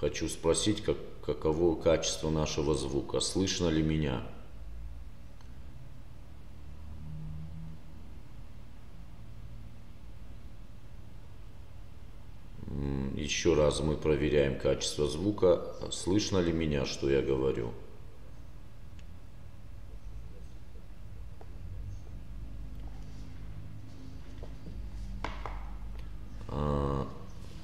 хочу спросить каково качество нашего звука слышно ли меня еще раз мы проверяем качество звука слышно ли меня что я говорю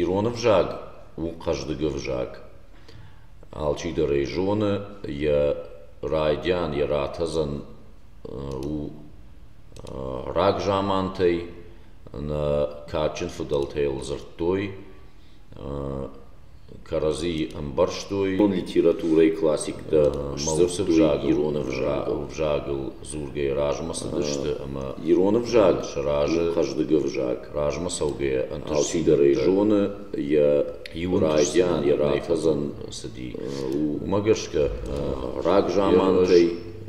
Ирон ӕвзаг у хъӕздыг ӕвзаг. Алчидӕр ӕй зоны, йӕ райдиан, йӕ ратӕдзӕн у рагзамантӕй, нӕ кадджын фыдӕлтӕ йыл дзырдтой. кӕрӕдзийы ӕмбӕрстой, литературӕйы классиктӕ сдзырдтой ирон ӕвзагыл дзургӕйӕ размӕ цыдысты ӕмӕ ирон ӕвзаг сразы хъӕздыг ӕвзаг размӕ цӕугӕйӕ ӕнтыстдӕрӕй зоны йӕ райдиан йӕ рафӕдзӕн цыди. Уымӕ гӕсгӕ рагзамантӕй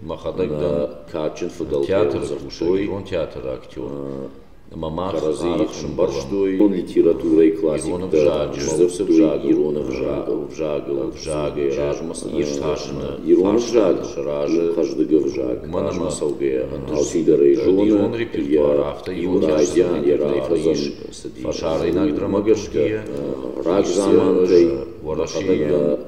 мӕхӕдӕг дӕр кадджын фыдӕлтӕ дзырдтой ирон театры актер ӕмӕ мах арӕх сӕмбӕрстой литературӕйы классиктӕ, ӕмӕ уыцы взаг ирон ӕвзагыл, ӕвзагӕй размӕ цыдӕр иртасыны, ирон ӕвзаг сразы хъӕздыг ӕвзаг, уымӕн ӕмӕ цӕугӕ алчидӕр ӕй зоны, йӕ иуын райдиан йӕ рахӕцын фӕсарӕйнаг драмӕ гӕсгӕ, рагзамантӕй, фӕлӕ нӕ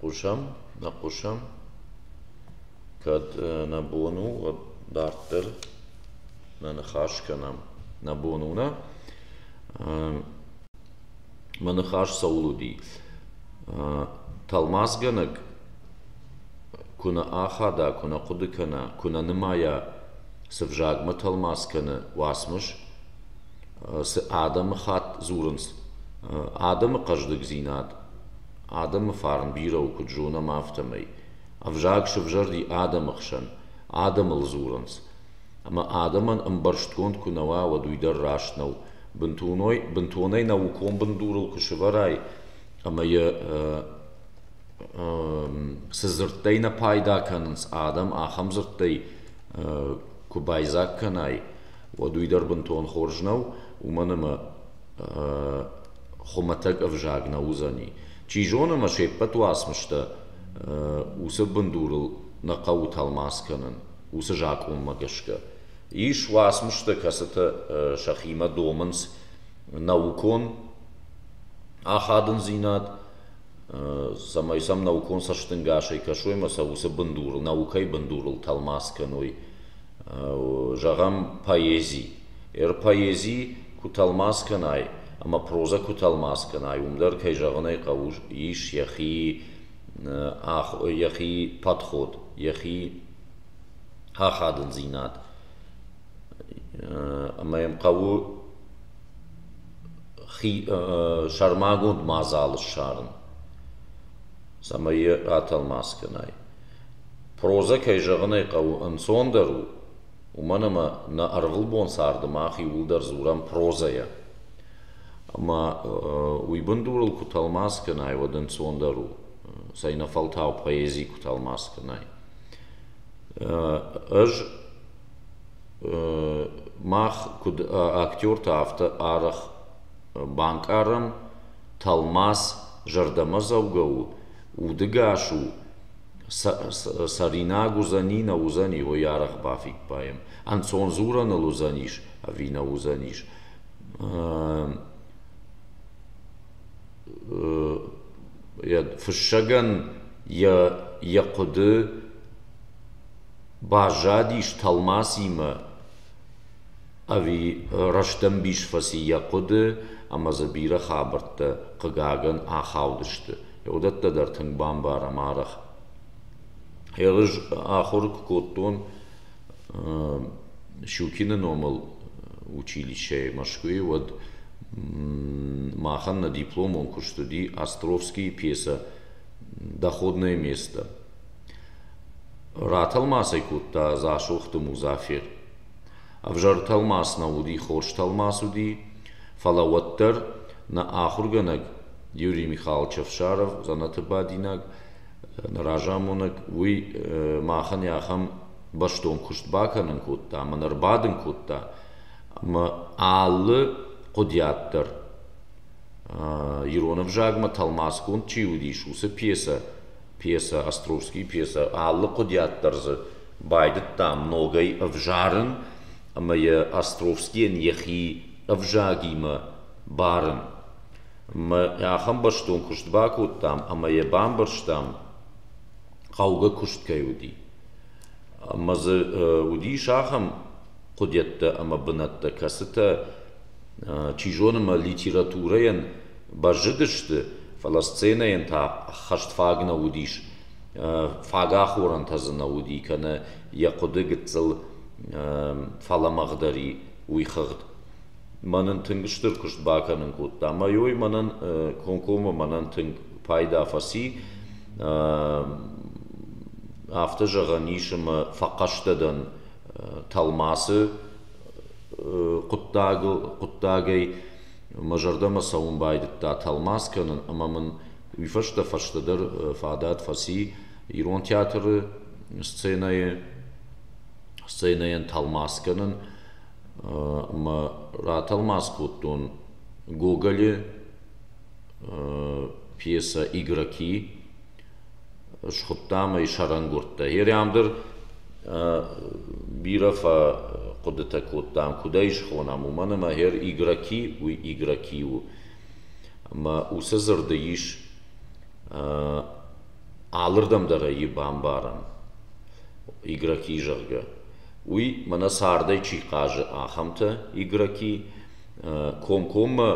Хъусӕм, нӕ хъусӕм, кӕд нӕ бон у дарддӕр нӕ ныхас кӕнӕм. Нӕ бон у нӕ? Мӕ ныхас цӕуыл уыди? Тӕлмацгӕнӕг куы нӕ ахада, куы нӕ хъуыды кӕна, куы нӕ нымайа, цы взагмӕ тӕлмац кӕны уацмыс, цы адӕмыхатт дзурынц, адӕмы хъӕздыгдзинад, адӕмы фарн бирӕ у куыд зонӕм, афтӕмӕй. Ӕвзаг сывзӕрди адӕмы хсӕн, адӕмыл дзурынц, ӕмӕ адӕмӕн ӕмбӕрстгонд куы нӕ уа, уӕд уый дӕр раст нӕу. бынтонӕй наукон бындурыл куы сӕвӕрай ӕмӕ йӕ цы дзырдтӕй нӕ пайда кӕнынц адӕм, ахӕм дзырдтӕй куы байдзаг кӕнай, уӕд уый дӕр бынтон хорз нӕу, уымӕн ӕмӕ хуымӕтӕг ӕвзаг нӕ уыдзӕни. Чи зоны ӕмӕ се ппӕт уацмыстӕ уыцы бындурыл нӕ хъӕуы тӕлмац кӕнын, уыцы закъонмӕ гӕсгӕ. Ис уацмыстӕ, кӕцытӕ сӕхимӕ домынц наукон ахадындзинад, цӕмӕй сӕм наукон цӕстӕнгасӕй кӕсой ӕмӕ сӕ уыцы бындур, наукӕйы бындурыл тӕлмац кӕной. Зӕгъӕм, поэзи. Ӕр поэзи куы тӕлмац кӕнай ӕмӕ прозӕ куы тӕлмац кӕнай, уым дӕр, кӕй зӕгъын ӕй хъӕуы, ис йӕхи, йӕхи подход, йӕхи ахадындзинад ӕмӕ йӕм хъӕуы хи сӕрмагонд мадзалы ссарын цӕмӕй йӕ атӕлмац кӕнай прозӕ кӕй зӕгъын ӕй хъӕуы ӕнцондӕр у уымӕн ӕмӕ нӕ ӕрвылбон царды мах иууылдӕр дзурӕм прозӕйӕ ӕмӕ уый бындурыл куы тӕлмац кӕнай уӕд ӕнцондӕр у цӕй нӕ фӕлтау поэзи куы тӕлмац кӕнай Ӕз мах куыд актертӕ, афтӕ арӕх банкъарӕм, тӕлмац зӕрдӕмӕдзӕугӕ у, удыгас у, цӕринаг уыдзӕни, нӕ уыдзӕни, уый арӕх бафиппайӕм. Ӕнцон дзурӕныл уыдзӕнис ӕви нӕ уыдзӕнис. фыссӕгӕн йӕ хъуыды баззадис тӕлмацимӕ ӕви рӕстӕмбис фӕци йӕ хъуыды ӕмӕ дзы бирӕ хабӕрттӕ, хъыгагӕн, ахаудысты. Уыдӕттӕ дӕр тынг бамбарӕм арӕх. Ерыс ахуыр куы кодтон, Щукины номыл училищӕйы Мӕскуыйы уӕд махӕн нӕ дипломон куыст уыди Островскийы пьесӕ «Доходное место». Ратӕлмацӕй кодта Дзасохты Музафер. Ӕвзӕр тӕлмац нӕ уыди, хорз тӕлмац уыди, фӕлӕ уӕддӕр нӕ ахуыргӕнӕг Юрий Михайлович Ӕфсаров, дзӕнӕты бадинаг, разамонӕг уый махӕн йӕ ахӕм бӕстон куыст бакӕнын кодта ӕмӕ нӕ рбадын кодта ӕмӕ алы хъуыдиат дӕр ирон ӕвзагмӕ тӕлмацгонд чи уыдис уыцы пьесӕ пьесӕ островский пьесӕ алы хъуыдиат дӕр дзы байдыдтам ногӕй ӕвзарын ӕмӕ йӕ островскийӕн йӕхи ӕвзагимӕ барын Мы ахӕм бӕстон куыст бакодтам ӕмӕ йӕ бамбӕрстам, хъӕугӕ куыст кӕй уыди. Ӕмӕ дзы уыдис ахӕм хъуыдӕттӕ ӕмӕ бынӕттӕ, кӕцытӕ, чи зоны, мӕ литературӕйӕн бӕззыдысты, фӕлӕ сценӕйӕн та ӕххӕст фаг нӕ уыдис. Фаг ахорӕнтӕ дзы нӕ уыди, кӕнӕ йӕ хъуыды гыццыл фӕлӕмӕгъдӕр и, уый хыгъд. мӕнӕн тынг стыр куыст бакӕнын кодта. Мӕйой мӕнӕн комкоммӕ мӕнӕн тынг пайда фӕци. Афтӕ зӕгъӕн ис ӕмӕ фӕхъӕстӕ дӕн тӕлмацы хъуыддагӕй. Мӕ зӕрдӕмӕ цӕуын байдыдта тӕлмац кӕнын ӕмӕ мын уый фӕстӕ фӕстӕдӕр фадат фӕци ирон театры сценӕйы сценӕйӕн тӕлмац кӕнын. ӕмӕ ратӕлмац кодтон Гоголы пьесӕ «Игроки». Схуыдтам ӕй сӕрӕнгуырдтӕ. Ӕрӕмдӕр бирӕ фӕхъуыдытӕ кодтам, куыд ӕй схонӕм, уымӕн ӕмӕ «Her игроки» уый игроки у. Ӕмӕ уыцы дзырды ис алырдӕм дӕр ӕй бамбарӕн, игроки, зӕгъгӕ. уый мӕнӕ цардӕй чи хъазы, ахӕмтӕ, игроки, комкоммӕ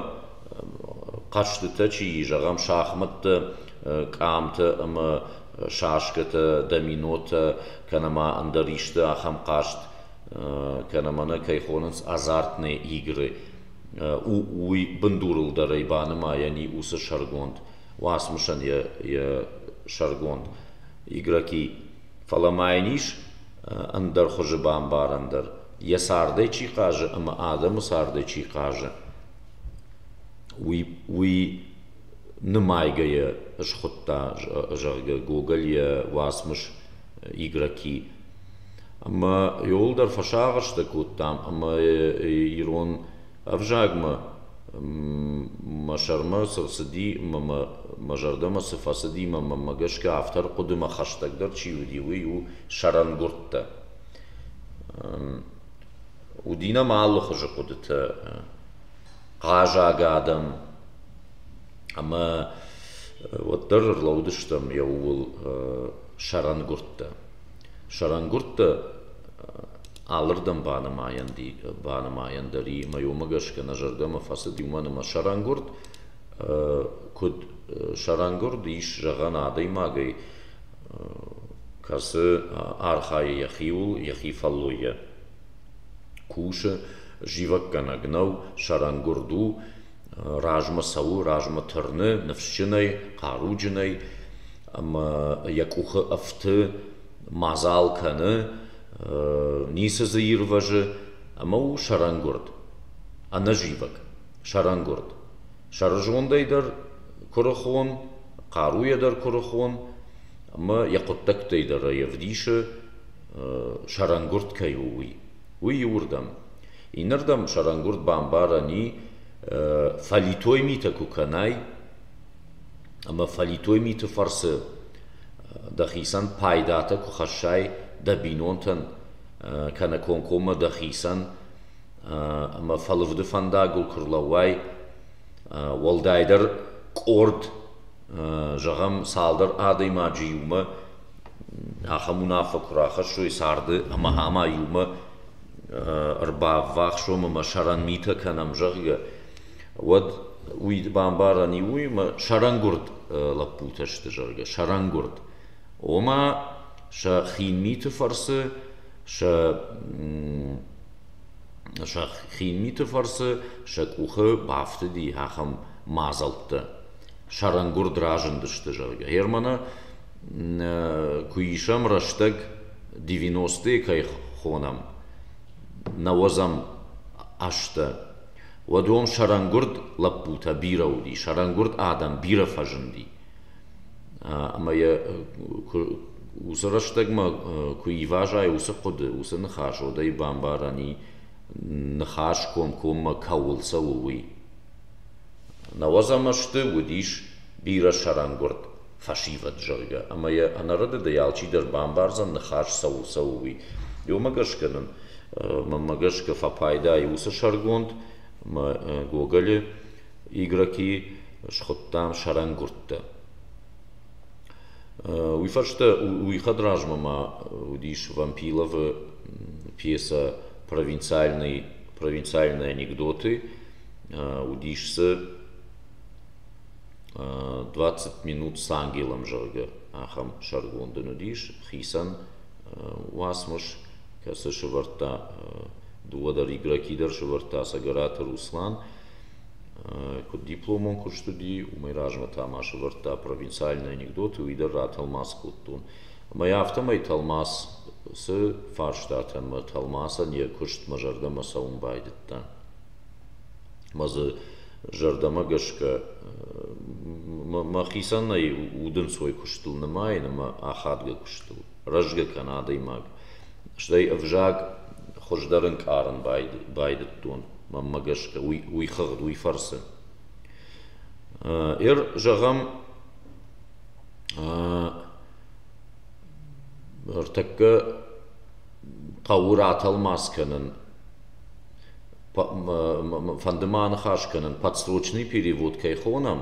хъӕзтытӕ чи и, зӕгъӕм, шахмӕттӕ, къамтӕ ӕмӕ шашкӕтӕ, доминотӕ, кӕнӕ ма ӕндӕр исты ахӕм хъазт, кӕнӕ ма нӕ кӕй хонынц азартные игры, уый бындурыл дӕр ӕй банымайӕн и уыцы сӕргонд, уацмысӕн йӕ сӕргонд игроки. Фӕлӕ ма йын ис ӕндӕр хуызы бамбарӕн дӕр, йӕ цардӕй чи хъазы ӕмӕ адӕмы цардӕй чи хъазы, уый уый нымайгӕ йӕ схуыдта, зӕгъгӕ, Гоголь йӕ уацмыс Игроки. Ӕмӕ иууылдӕр фӕсагъӕстӕ кодтам ӕмӕ ирон Ӕвзагмӕ мӕ сӕрмӕ цы рцыди мӕ мӕ зӕрдӕмӕ цы фӕцыди мӕ мӕнмӕ гӕсгӕ автор хъуыдымӕ хӕстӕгдӕр чи уыди, уый у сӕрӕнгуырдтӕ. Уыди нӕм алыхуызы хъуыдытӕ хъазаг адӕм ӕмӕ уӕддӕр ӕрлӕудыстӕм йӕ ууыл сӕрӕнгуырдтӕ. Сӕрӕнгуырдтӕ Алырдӕм банымайӕн дӕр и мӕ уымӕ гӕсгӕ нӕ зӕрдӕмӕ фӕцыд уымӕн ӕмӕ сӕрӕнгуырд куыд сӕрӕнгуырд ис зӕгъӕн адӕймагӕй, кӕцы архайы йӕхиуыл, йӕхи фӕллойӕ. Кусы, зивӕггӕнӕг нӕу, сӕрӕнгуырд у, размӕ цӕуы, размӕ тырны, ныфсджынӕй, хъаруджынӕй ӕмӕ йӕ къухы ӕфты мадзал кӕны, ницы дзы ирвӕзы ӕмӕ у сӕрӕнгуырд, ӕнӕзивӕг, сӕрӕнгуырд. сӕрызондӕй дӕр куырыхон, хъаруйӕ дӕр куырыхон ӕмӕ йӕ хъуыддӕгтӕй дӕр ӕй ӕвдисы, сӕрӕнгуырд кӕй у, уый. Уый иуырдӕм. Иннӕрдӕм сӕрӕнгуырд бамбарӕн и, фӕлитой митӕ куы кӕнай, ӕмӕ фӕлитой миты фӕрцы дӕхицӕн пайдатӕ куы хӕссай дӕ бинонтӕн кӕнӕ комкоммӕ дӕхицӕн ӕмӕ фӕлывды фӕндагыл куы рлӕууай, уӕлдайдӕр къорд, зӕгъӕм, цалдӕр адӕймаджы иумӕ ахӕм уынаффӕ куы рахӕссой царды ӕмӕ ӕма иумӕ ӕрбаввахсом ӕмӕ сӕрӕн митӕ кӕнӕм, зӕгъгӕ, уӕд уый бамбарӕн и уый, ӕмӕ сӕрӕнгуырд лӕппутӕ сты, зӕгъгӕ, сӕрӕнгуырд. Ома, сӕ хин миты фӕрцы сӕ сӕ хин миты фӕрцы сӕ къухы бафтыди ахӕм мадзӕлттӕ. Сӕрӕнгуырд разындысты, зӕгъгӕ. Германы куы исӕм рӕстӕг, 90-е кӕй хонӕм, нӕуӕдзӕм азтӕ, уӕд уым сӕрӕнгуырд лӕппутӕ бирӕ уыди, сӕрӕнгуырд адӕм бирӕ фӕзынди. Ӕмӕ йӕ уыцы рӕстӕгмӕ куы ивазай уыцы хъуыды, уыцы ныхас, уӕд ӕй бамбарӕн и, ныхас комкоммӕ кӕуыл цӕуы, уый. Науӕдз ӕмӕ сты, уыдис бирӕ сӕрӕнгуырд. фӕсивӕд, зӕгъгӕ, ӕмӕ йӕ ӕнӕрӕдыдӕй алчидӕр бамбардзӕн, ныхас цӕуыл цӕуы, уый. Уымӕ гӕсгӕ нын, мӕнмӕ гӕсгӕ, фӕпайдайы уыцы сӕргонд мӕ Гоголы Игроки схуыдтам сӕрӕнгуырдтӕ. Уый фӕстӕ уый хӕдразмӕ ма уыдис Вампиловы пьесӕ «Провинциальный, провинциальные анекдоты», уыдис дзы двадцать минут с ангелом зӕгъгӕ ахӕм сӕргонд ын уыдис хицӕн уацмыс кӕцы сывӕрдта дыууӕдӕр игроки дӕр сывӕрдта цӕгӕраты руслан куыд дипломон куыст уыди уымӕй размӕ та ма сывӕрдта провинциальные анекдоты уый дӕр ратӕлмац кодтон ӕмӕ афтӕмӕй тӕлмац цы фарстатӕн мӕ тӕлмацӕн йӕ куыстмӕ зӕрдӕмӕ цӕуын байдыдта Ӕмӕ дзы зӕрдӕмӕ гӕсгӕ мӕхицӕн нӕй удӕнцой куыстыл нымайын ӕмӕ ахадгӕ куыстыл, рӕзгӕ кӕна адӕймаг. Стӕй ӕвзаг хуыздӕр ӕнкъарын байдыдтон, мӕнмӕ гӕсгӕ, уый хыгъд, уый фӕрцы. Эр, зӕгъӕм, ӕртӕккӕ хъӕуы ратӕлмац кӕнын. фӕнды ма аныхас кӕнын, подсрочный перевод кӕй хонӕм,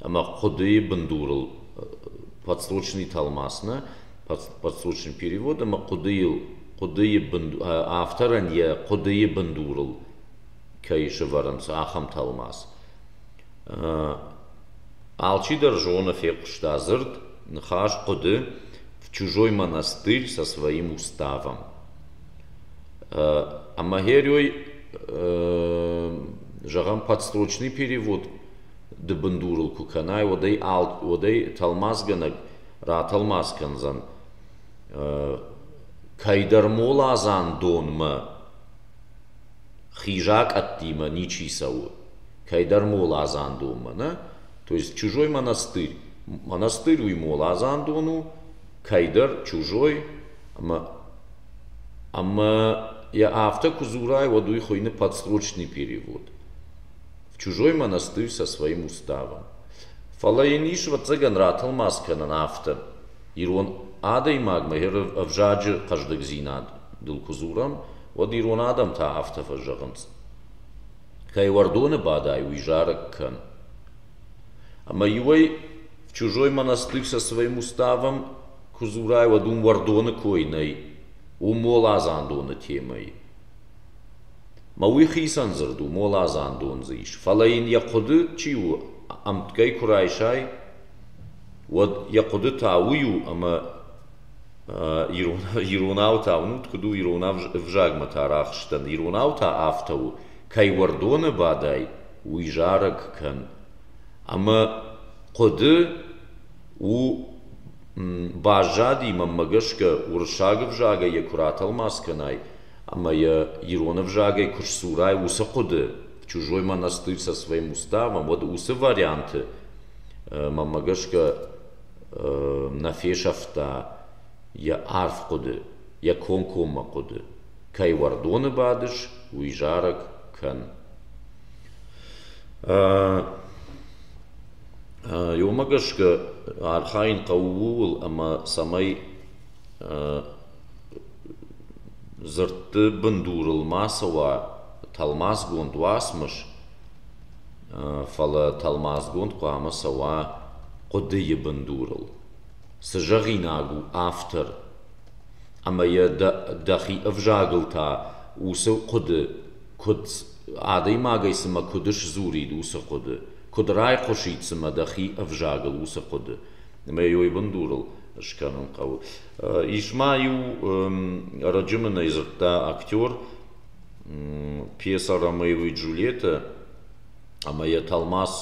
ӕмӕ хъуыдыйы бындурыл подсрочный тӕлмац нӕ подсрочный перевод ӕмӕ хъуыдыйыл хъуыдыйы бынду авторӕн йӕ хъуыдыйы бындурыл кӕй сывӕрынц ахӕм тӕлмац. Алчидӕр зоны, фехъуыста дзырд, ныхас хъуыды в чужой монастырь со своим уставом. Ӕмӕ Герой, зӕгъӕм, подстрочный перевод ды бындурыл куы кӕнай, уӕд ӕй уӕд ӕй тӕлмацгӕнӕг ратӕлмац кӕндзӕн кӕйдӕр моладзан донмӕ, хизакъӕдтимӕ ничи цӕуы, кӕйдӕр моладзан донмӕ, нӕ? То есть чужой монастырь. Монастырь уый моладзан дон у, кӕйдӕр чужой ӕмӕ йӕ афтӕ куы дзурай, уӕд уый хуыйны подсрочный перевод. В чужой монастырь со своим уставом. Фӕлӕ йын ис ӕвӕццӕгӕн ратӕлмац кӕнӕн афтӕ. Ирон адӕймагмӕ йӕ ӕвзаджы хъӕздыгдзинадыл куы дзурӕм, уӕд ирон адӕм та афтӕ фӕзӕгъынц: кӕй уӕрдоны бадай, уый зарӕг кӕн. Ӕма иуӕй чузой монастырь сӕ цӕвӕн уставӕн ку дзорай, уӕд уым уӕрдони кой нӕй, у моладзандони темӕй. Ма уый хицӕн дзырд у, моладзандон дзы ис, фалӕ йын йӕ хъуыды чи у ӕмтгӕй куы райсай, уӕд йӕ хъуыдытӕ уый у, ӕмӕ иронау та уынут, куыд у ирон ӕвзагмӕ та арӕхстӕн, иронау та афтӕ у, кӕй уӕрдоны бадай, уый зарӕг кӕн. Ӕмӕ хъуыды у баззади, мӕнмӕ гӕсгӕ, уырыссаг ӕвзагӕй йӕ куы ратӕлмац кӕнай ӕмӕ йӕ ирон ӕвзагӕй куы сдзурай, уыцы хъуыды, чужой мӕн ӕстыд со своим уставом, уӕд уыцы варианты мӕнмӕ гӕсгӕ нӕ фесӕфта йӕ арф хъуыды, йӕ комкоммӕ хъуыды. кӕй уӕрдоны бадыс, уый зарӕг кӕн. Йомӕ гӕсгӕ архайын хъӕуы ууыл, ӕмӕ цӕмӕй дзырдты бындурыл ма цӕуа тӕлмацгонд уацмыс, фӕлӕ тӕлмацгонд хъуамӕ цӕуа хъуыдыйы бындурыл. Цы зӕгъинаг у автор ӕмӕ йӕ дӕхи ӕвзагыл та уыцы хъуыды куыд адӕймагӕй цымӕ куыд сдзурид уыцы хъуыды куыд райхъуысид цымӕ дӕхи ӕвзагыл уыцы хъуыды ӕмӕ йӕ уый бындурыл скӕнын хъӕуы ис ма иу ӕрӕджы мын ӕй дзырдта актер пьеса ромео и джульетта ӕмӕ йӕ тӕлмац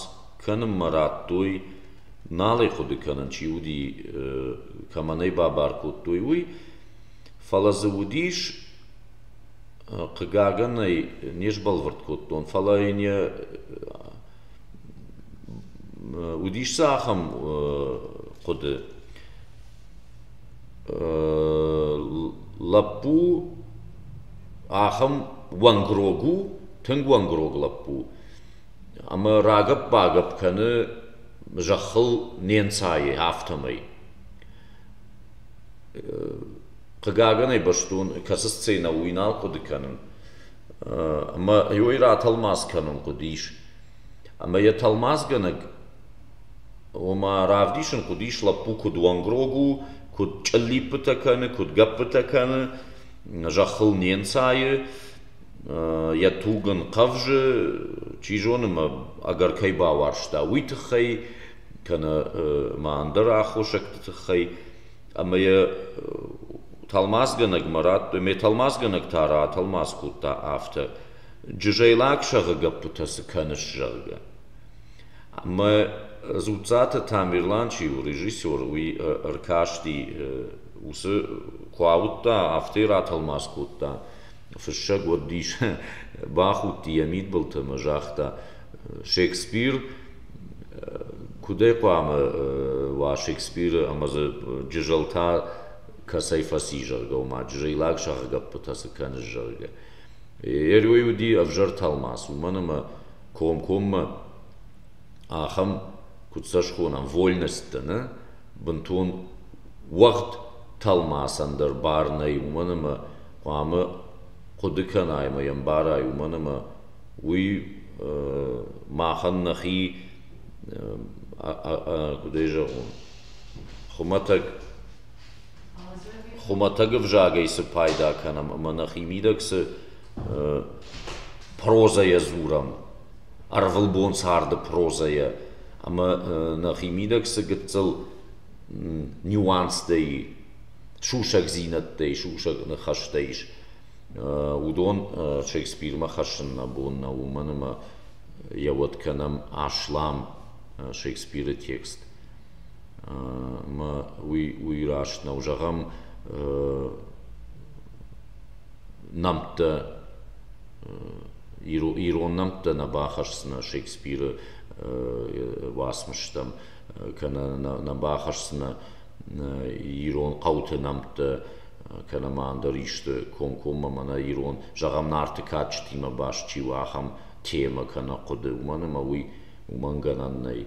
кӕнынмӕ радтой Нал ӕй хъуыды кӕнын, чи уыди, кӕмӕн ӕй бабар кодтой, уый, фӕлӕ дзы уыдис, хъыгагӕн ӕй не сбӕлвырд кодтон, фӕлӕ йын йӕ уыдис дзы ахӕм хъуыды: лӕппу ахӕм уӕнгрог у, тынг уӕнгрог лӕппу. Ӕмӕ рагӕпп-багӕпп кӕны зӕххыл не нцайы, афтӕмӕй. Хъыгагӕн ӕй бӕстон, кӕцы сценӕ у, уый нал хъуыды кӕнын. Ӕмӕ уый ратӕлмац кӕнын хъуыдис. Ӕмӕ йӕ тӕлмацгӕнӕг, ома равдисын хъуыдис, лӕппу куыд уӕнгрог у, куыд чъыллиппытӕ кӕны, куыд гӕппытӕ кӕны, зӕххыл не нцайы. йӕ туг ын хъӕвзы, чи зоны мӕ ӕгӕр кӕй бауарзта, уый тыххӕй, кӕнӕ ма ӕндӕр аххосӕгты тыххӕй. Ӕмӕ йӕ тӕлмацгӕнӕгмӕ радтой, ме тӕлмацгӕнӕг та ратӕлмац кодта афтӕ: Джызӕлаг сӕгъы гӕппытӕ цы кӕныс, зӕгъгӕ. Ӕмӕ Дзуццаты Тамерлан чи у, режиссер, уый ӕркасти уыцы, куы ауыдта, афтӕ ратӕлмац кодта, Фыссӕг уыдис, бахудти йӕ мидбылты ӕмӕ загъта, Шекспир куыд ӕй хъуамӕ уа Шекспиры ӕмӕ дзы Джызӕлтӕ кӕцӕй фӕци, зӕгъгӕ, уымӕ, джызӕйлаг сӕгъгӕппытӕ цы кӕныс, зӕгъгӕ. Эрой уыди ӕвзӕр тӕлмац, уымӕн ӕмӕ комкоммӕ ахӕм, куыд сӕ схонӕм, вольносттӕ, нӕ, бынтон уӕгъд тӕлмацӕн дӕр бар нӕй, уымӕн ӕмӕ хъуамӕ хъуыды кӕна ӕмӕ йӕ ӕмбара, уымӕн ӕмӕ уый махӕн нӕхи, куыдӕй зӕгъон, хуымӕтӕг хуымӕтӕг ӕвзагӕй цы пайда кӕнӕм ӕмӕ нӕхи мидӕг цы прозӕйӕ дзурӕм, ӕрвылбон царды прозӕйӕ ӕмӕ нӕхи мидӕг цы гыццыл нюанстӕ и, сусӕгдзинӕдтӕй, сусӕг ныхӕстӕ ис, уыдон Шекспирмӕ хӕссын нӕ бон нӕу, уымӕн ӕмӕ йӕ уӕд кӕнӕм аслам Шекспиры текст. Ӕмӕ уый, уый раст нӕу. Зӕгъӕм, нӕмттӕ ирон нӕмттӕ нӕ бахӕсдзынӕ Шекспиры уацмыстӕм, кӕнӕ нӕ бахӕсдзынӕ ирон хъӕуты нӕмттӕ кӕнӕ ма ӕндӕр исты комкоммӕ мӕнӕ ирон, зӕгъӕм, нарты кадджытимӕ баст чи у, ахӕм темӕ кӕнӕ хъуыды, уымӕн ӕмӕ уый уымӕн гӕнӕн нӕй.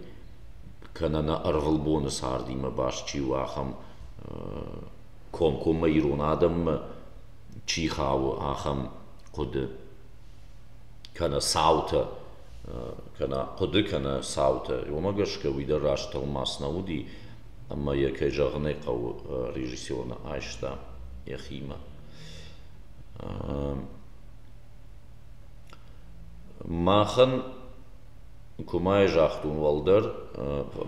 Кӕнӕ нӕ ӕрвылбоны цардимӕ баст чи у, ахӕм комкоммӕ ирон адӕммӕ чи хауы, ахӕм хъуыды. Кӕнӕ цаутӕ, кӕнӕ хъуыды, кӕнӕ цаутӕ. Уымӕ гӕсгӕ уый дӕр раст тӕлмац нӕ уыди. ӕмӕ йӕ, кӕй зӕгъын ӕй хъӕуы, режиссерон айста йӕхимӕ. Махӕн куымӕй загътон уӕлдӕр,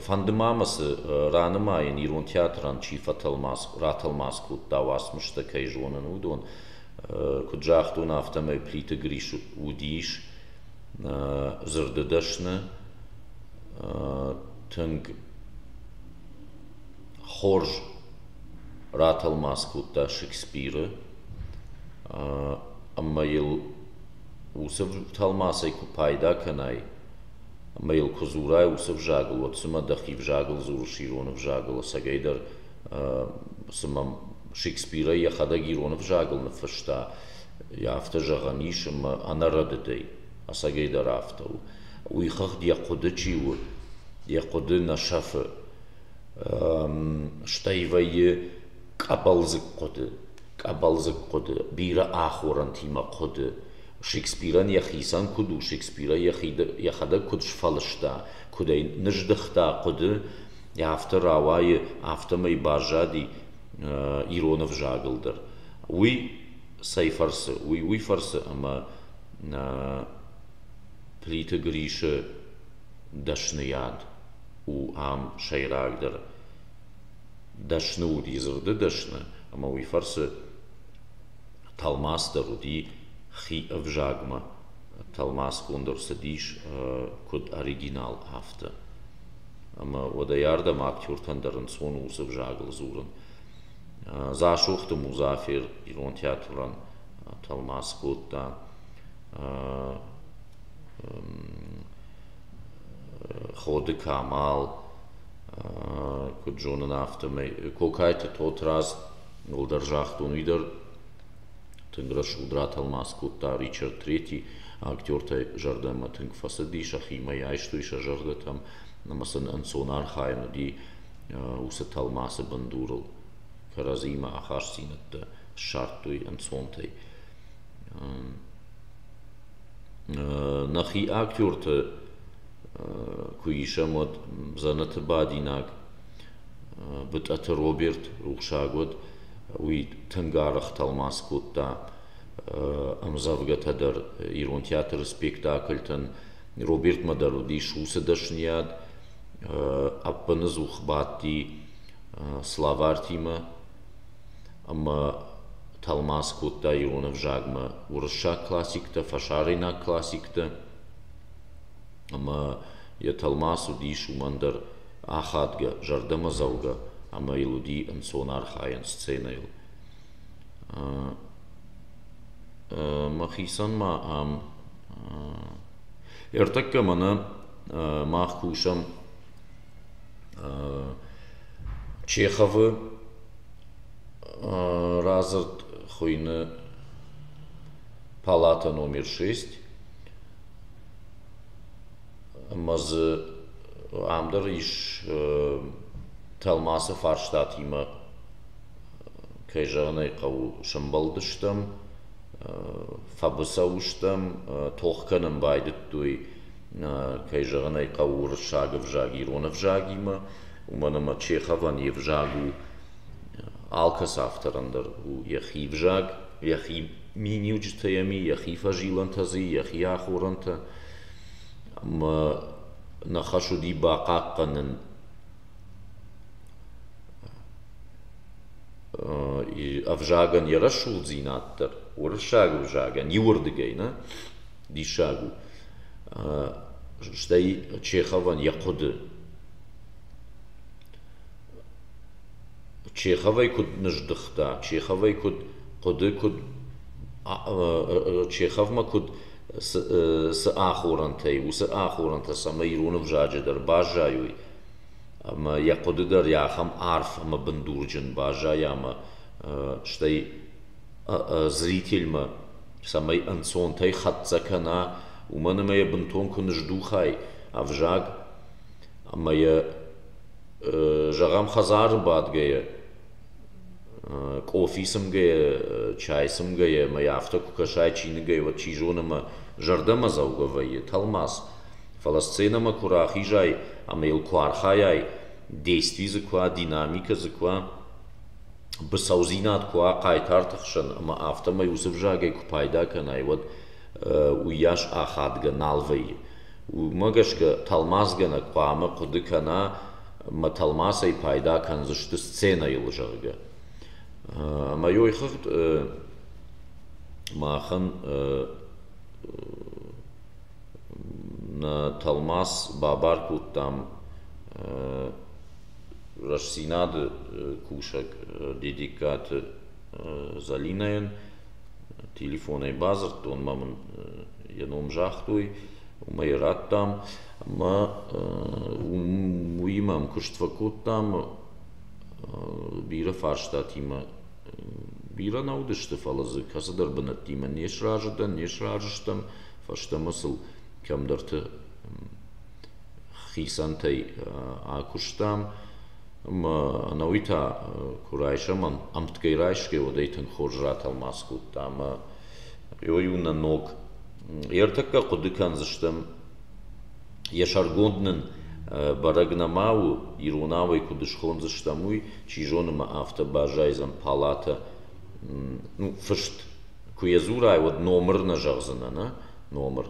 фӕнды ма мӕ цы ранымайын, ирон театрӕн чи ратӕлмац кодта уацмыстӕ, кӕй зонын, уыдон. Куыд загътон, афтӕмӕй Плиты Грис уыдис дзырды дӕсны. Тынг Хорз ратӕлмац кодта Шекспиры ӕмӕ йыл уыцы тӕлмацӕй куы пайда кӕнай ӕмӕ йыл куы дзурай уыцы ӕвзагыл, уӕд цымӕ дӕхи ӕвзагыл дзурыс ирон ӕвзагыл ӕцӕгӕйдӕр, цымӕ Шекспирӕй йӕхӕдӕг ирон ӕвзагыл ныффыста, йӕ афтӕ зӕгъӕн ис ӕмӕ ӕнӕрӕдыдӕй? ӕцӕгӕйдӕр афтӕ у. Уый хыгъд йӕ хъуыды чи у, йӕ хъуыды нӕ сӕфы. Стӕй вӕййы къӕбӕлдзыг хъуыды, къӕбӕлдзыг хъуыды, бирӕ ахорӕнтимӕ хъуыды. Шекспирӕн йӕхицӕн куыд у, Шекспирӕ йӕхӕдӕг куыд сфӕлыста, куыд ӕй ныздыхта хъуыды, афтӕ рауайы, афтӕмӕй баззади ирон ӕвзагыл дӕр. Уый цӕй фӕрцы? Уый уый фӕрцы, ӕмӕ плиты грисы дӕсныйад у ам сӕйрагдӕр дӕсны уыди дзырды дӕсны ӕмӕ уый фӕрцы тӕлмац дӕр уыди хи ӕвзагмӕ тӕлмацгонд ӕрцыдис куыд оригинал афтӕ ӕмӕ уӕдӕй ардӕм актертӕн дӕр ӕнцон у уыцы ӕвзагыл дзурын Дзасохты Музафер ирон театрӕн тӕлмац кодта Ходы Камал, куыд зонын, афтӕмӕй. Кокайты Тотрадз уӕлдӕр загътон, уый дӕр тынг рӕсугъд ратӕлмац кодта Ричард III актертӕй зӕрдӕмӕ тынг фӕцыди сӕхимӕ, айстой сӕ зӕрдӕтӕм ӕмӕ сын ӕнцон архайӕн уыди уыцы тӕлмацы бындурыл кӕрӕдзимӕ ахастдзинӕдтӕ ссардтой ӕнцонтӕй. нӕхи актёрты куы исӕм, уӕд дзӕнӕты бадинаг Бытъӕты Роберт рухсаг уыд. Уый тынг арӕх тӕлмац кодта ӕмдзӕвгӕтӕ дӕр ирон театры спектакльтӕн. Робертмӕ дӕр уыдис уыцы дӕсныйад, ӕппыныдзух бадти славартимӕ ӕмӕ тӕлмац кодта ирон ӕвзагмӕ уырыссаг классиктӕ, фӕсарӕйнаг классиктӕ ӕмӕ йӕ тӕлмац уыдис уымӕн дӕр ахадгӕ, зӕрдӕмӕдзӕугӕ ӕмӕ йыл уыди ӕнцон архайӕн сценӕйыл. Мӕхицӕн ма ам Ӕртӕккӕ мӕнӕ мах кусӕм Чеховы радзырд хуыйны палата номер шесть ӕмӕ дзы ам дӕр ис тӕлмацы фарстатимӕ кӕй зӕгъын ӕй хъӕуы, сӕмбӕлдыстӕм, фӕбыцӕу стӕм, тох кӕнын байдыдтой, кӕй зӕгъын ӕй хъӕуы, уырыссаг ӕвзаг ирон ӕвзагимӕ, уымӕн ӕмӕ Чеховӕн йе взаг у алкӕцы авторӕн дӕр у йӕхи ӕвзаг, йӕхи миниуджытӕ йӕм и, йӕхи фӕзилӕнтӕ дзы и, йӕхи ахорӕнтӕ. Ӕмӕ нӕ хӕс уыди бахъахъхъӕнын ӕвзагӕн йӕ рӕсугъддзинад дӕр уырыссаг ӕвзагӕн иуырдыгӕй нӕ диссаг у стӕй чеховӕн йӕ хъуыды чеховӕй куыд ныздыхта чеховӕй куыд хъуыды куыд чеховмӕ куыд цы ахорӕнтӕй уыцы ахорӕнтӕ цӕмӕй ирон ӕвзаджы дӕр баззайой Ӕмӕ йӕ хъуыды дӕр йӕ ахӕм арф ӕмӕ бындурджын баззайы ӕмӕ стӕй зрительмӕ цӕмӕй ӕнцонтӕй хӕццӕ кӕна, уымӕн ӕмӕ йӕ бынтон куы ныздухай ӕвзаг ӕмӕ йӕ, зӕгъӕм, хӕдзары бадгӕйӕ, къофи цымгӕйӕ, чай цымгӕйӕ ӕмӕ йӕ афтӕ куы кӕсай чиныгӕй, уӕд, чи зоны, ӕмӕ зӕрдӕмӕдзӕугӕ вӕййы тӕлмац. фӕлӕ сценӕмӕ куы рахизай ӕмӕ йыл куы архайай, действий дзы куы уа, динамикӕ дзы куы уа, быцӕудзинад куы уа хъайтарты хсӕн ӕмӕ афтӕмӕй уыцы взагӕй куы пайда кӕнай, уӕд уыйас ахадгӕ нал вӕййы. Уымӕ гӕсгӕ тӕлмацгӕнӕг хъуамӕ хъуыды кӕна, мӕ тӕлмацӕй пайда кӕндзысты сценӕйыл, зӕгъгӕ. Ӕмӕ йой хыгъд махӕн тӕлмац бабар кодтам Рӕстдзинад-ы кусӕг Дедегкаты Залинӕйӕн. Телефонӕй бадзырдтон, мӕ мын йӕ ном загътой, уымӕй радтам ӕмӕ уыимӕ ӕмкуыст фӕкодтам бирӕ фарстатимӕ. Бирӕ нӕ уыдысты, фӕлӕ дзы кӕцыдӕр бынӕттимӕ не сразы дӕн, не сразы стӕм, фӕстӕмӕ сыл кӕмдӕрты хицӕнтӕй акуыстам. Ӕмӕ ӕнӕуый та куы райсӕм, ӕмтгӕй райсгӕ, уӕдӕй тынг хорз ратӕлмац кодта ӕмӕ иу-иу нӕ ног. Ӕртӕккӕ хъуыды кӕндзыстӕм Йӕ сӕргонд нын бӕрӕг нӕма у, иронау ӕй куыд схондзыстӕм, уый, чи зоны ма афтӕ баззайдзӕн палатӕ, ну, фыст. Куы йӕ дзурай, уӕд номыр нӕ зӕгъдзынӕ, нӕ? Номыр.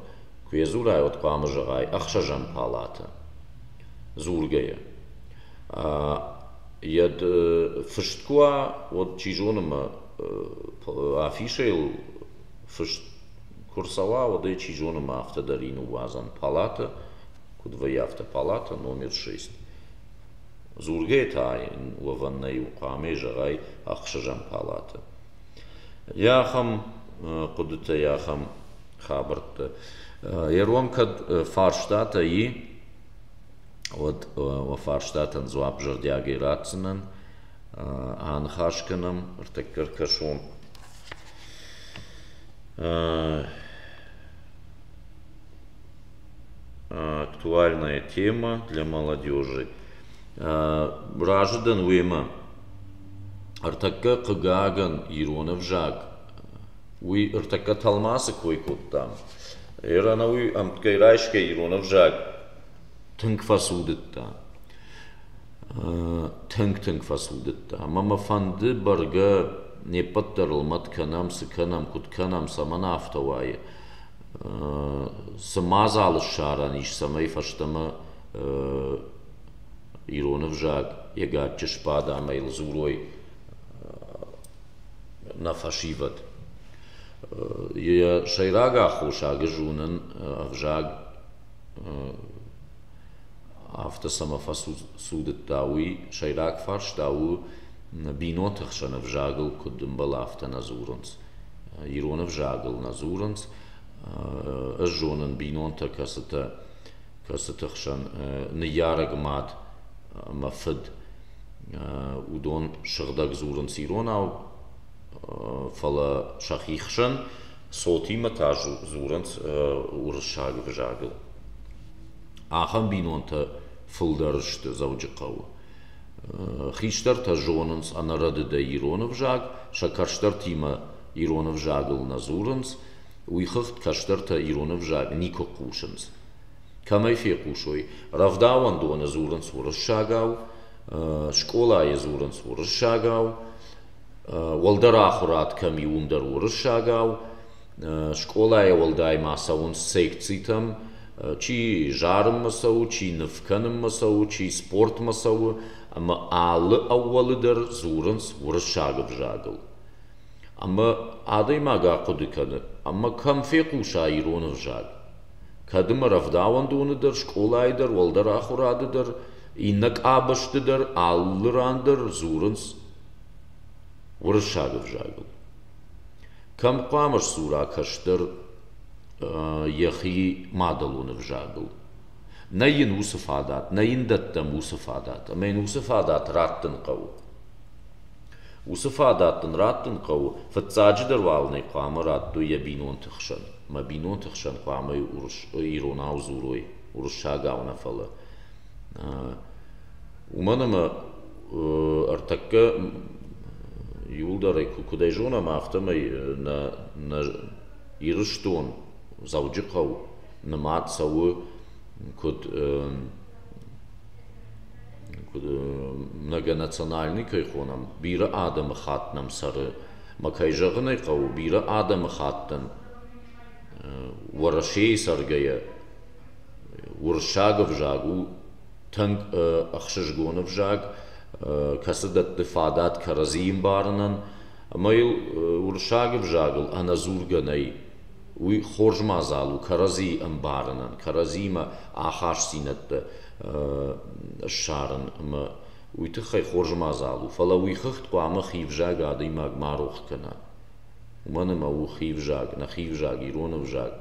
Куы йӕ дзурай, уӕд хъуамӕ зӕгъай ӕхсӕзӕм палатӕ дзургӕйӕ. Йӕ фыст куы уа, уӕд, чи зоны ма афишӕйыл фыст Куы рцӕуа, уӕд ӕй, чи зоны, ма афтӕ дӕр ин ныууадзӕм палатӕ, куыд вӕййы афтӕ палатӕ, номер шесть. Дзургӕ та йын уӕвӕн нӕй у, хъуамӕ зӕгъай ӕхсӕзӕм палатӕ. Гъе ахӕм хъуыдытӕ, йӕ ахӕм хабӕрттӕ. Йӕ рон кӕд фарстатӕ и, уӕд уӕ фарстатӕн дзуапп зӕрдиагӕй ратдзынӕн. Аныхас кӕнӕм ӕртӕккӕ ӕркӕсон актуальная тема для молодежи. Разы дӕн уемӕ. Ӕртӕккӕ, хъыгагӕн, ирон ӕвзаг уый ӕртӕккӕ тӕлмацы кой кодтам. Ӕры ӕнӕуый ӕмтгӕй райсгӕ ирон ӕвзаг тынг фӕцудыдта. Тынг-тынг фӕцудыдта ӕмӕ мӕ фӕнды бӕргӕ не ппӕт дӕр лымӕт кӕнӕм, цы кӕнӕм, куыд кӕнӕм, цӕмӕн афтӕ уайы. Цы мадзалы ссарӕн ис, цӕмӕй фӕстӕмӕ ирон ӕвзаг йӕ гаччы сбада ӕмӕ йыл дзурой нӕ фӕсивӕд. Йӕ сӕйраг аххосаг зонын ӕвзаг афтӕ цӕмӕ фӕцудыдта, уый сӕйраг фарста у бинонты хсӕн ӕвзагыл куыд ӕмбӕлы, афтӕ нӕ дзурынц. Ирон ӕвзагыл нӕ дзурынц. Ӕз зонын бинонтӕ, кӕцытӕ кӕцыты хсӕн ныййарӕг мад ӕмӕ фыд, уыдон сыгъдӕг дзурынц иронау, фӕлӕ сӕхи хсӕн цотимӕ та дзурынц уырыссаг ӕвзагыл. Ахӕм бинонтӕ фылдӕр сты Дзӕуджыхъӕуы. Хистӕртӕ зонынц ӕнӕрӕдыдӕй ирон ӕвзаг, сӕ кӕстӕртимӕ ирон ӕвзагыл нӕ дзурынц, уыйхыгъд кӕстӕртӕ ирон ӕвзаг никуы хъусынц. Кӕмӕй фехъусой, рӕвдауӕндоны дзурынц уырыссагау, скъолайы дзурынц уырыссагау, Уӕлдӕр ахуырад кӕм и, уым дӕр уырыссагау. Скъолайӕ уӕлдай ма цӕуынц секцитӕм. Чи зарынмӕ цӕуы, чи ныв кӕнынмӕ цӕуы, чи спортмӕ цӕуы ӕмӕ алы ӕууӕлы дӕр дзурынц уырыссаг ӕвзагыл. Ӕмӕ адӕймаг ахъуыды кӕны, ӕмӕ кӕм фехъуса ирон ӕвзаг? Кӕд ӕмӕ рӕвдауӕндоны дӕр, скъолайы дӕр, уӕлдӕр ахуырады дӕр, иннӕ къабӕзты дӕр, алы ран дӕр дзурынц Уырыссаг ӕвзагыл. Кӕм хъуамӕ сдзура кӕстӕр йӕхи мадӕлон ӕвзагыл? Нӕ йын уыцы фадат, нӕ йын дӕттӕм уыцы фадат, ӕмӕ йын уыцы фадат раттын хъӕуы. Уыцы фадат дын раттын хъӕуы, фыццаджыдӕр уал ын ӕй хъуамӕ раттой йӕ бинонты хсӕн. Мӕ бинонты хсӕн хъуамӕ урс, иронау дзурой, уырыссагау нӕ фӕлӕ. Уымӕн ӕмӕ ӕртӕккӕ иуылдӕрӕй куыдӕй зонӕм, афтӕмӕй нӕ нӕ Ирыстон, Дзӕуджыхъӕу нымад цӕуы куыд куыд многонациональный кӕй хонӕм, бирӕ адӕмы хатт нӕм цӕры. Ӕмӕ кӕй зӕгъын ӕй хъӕуы, бирӕ адӕмы хаттӕн Уӕрӕсейы цӕргӕйӕ уырыссаг ӕвзаг у тынг ӕхсызгон ӕвзаг, кӕцы дӕтты фадат кӕрӕдзийы ӕмбарынӕн ӕмӕ йыл уырыссаг ӕвзагыл ӕнӕдзургӕ нӕй. Уый хорз мадзал у кӕрӕдзийы ӕмбарынӕн, кӕрӕдзиимӕ ахастдзинӕдтӕ ссарын ӕмӕ уый тыххӕй хорз мадзал у. Фӕлӕ уый хыгъд хъуамӕ хи ӕвзаг адӕймаг ма рох кӕна. Уымӕн ӕмӕ у хи ӕвзаг, нӕ хи ӕвзаг, ирон ӕвзаг.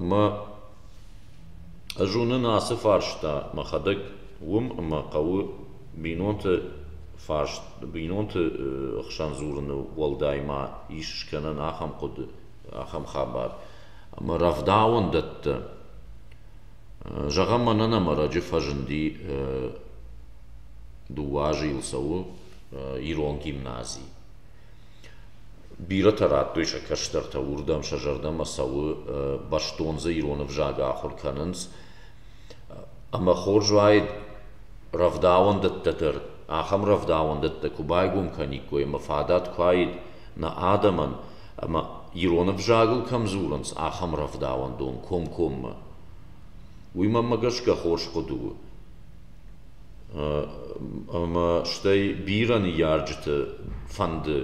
Ӕмӕ Ӕз уынын ацы фарста мӕхӕдӕг, уым ӕмӕ хъӕуы бинонты фарст, бинонты хсӕн дзурыны уӕлдай ма ис скӕнӕн ахӕм хъуыды, ахӕм хабар. Ӕмӕ рӕвдауӕндӕттӕ. Зӕгъӕм, мӕнӕн ӕмӕрӕджы фӕзынди дыууӕ азы йыл цӕуы ирон гимнази. Бирӕтӕ радтой сӕ кӕстӕртӕ уырдӕм сӕ зӕрдӕмӕ цӕуы, бӕстон дзы ирон ӕвзаг ахуыр кӕнынц. Ӕмӕ хорз уаид рӕвдауӕндӕттӕ дӕр, ахӕм рӕвдауӕндӕттӕ куы байгом кӕниккой ӕмӕ фадат куы уаид нӕ адӕмӕн, ӕмӕ ирон ӕвзагыл кӕм дзурынц, ахӕм рӕвдауӕндон комкоммӕ. Уый, мӕнмӕ гӕсгӕ, хорз хъуыды у. Ӕмӕ стӕй бирӕ ныййарджыты фӕнды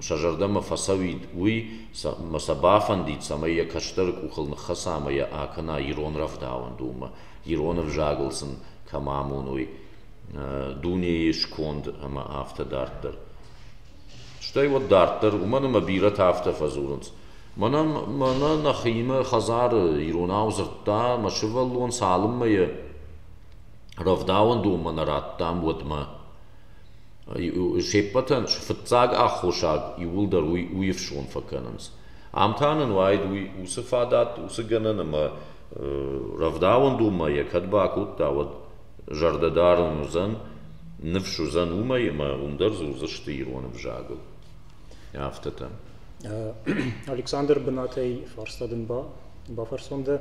сӕ зӕрдӕмӕ фӕцӕуид уый, ӕмӕ сӕ бафӕндид, цӕмӕй йӕ кӕстӕры къухыл ныххӕца ӕмӕ йӕ акӕна ирон рӕвдауӕндонмӕ, ирон ӕвзагыл сын кӕм амоной дунейы сконд ӕмӕ афтӕ дарддӕр. Стӕй уӕд дарддӕр, уымӕн ӕмӕ бирӕтӕ афтӕ фӕдзурынц: мӕнӕ нӕхимӕ хӕдзары иронау дзырдта мӕ сывӕллон цалынмӕ йӕ Рӕвдауӕн донмӕ нӕ радтам уӕдмӕ. се ппӕтӕн фыццаг аххосаг иууылдӕр уый у ифсон фӕкӕнынц. Ам та нын уайд уый уыцы фадат, уыцы гӕнӕн ӕмӕ рӕвдауӕн донмӕ йӕ кӕд бакодта, уӕд зӕрдӕ дарын уыдзӕн, ныфс уыдзӕн уымӕй ӕмӕ уым дӕр дзурдзысты ирон ӕвзагыл. Афтӕтӕ. Александр, бынатӕй фарста дын бафӕрсон дӕ.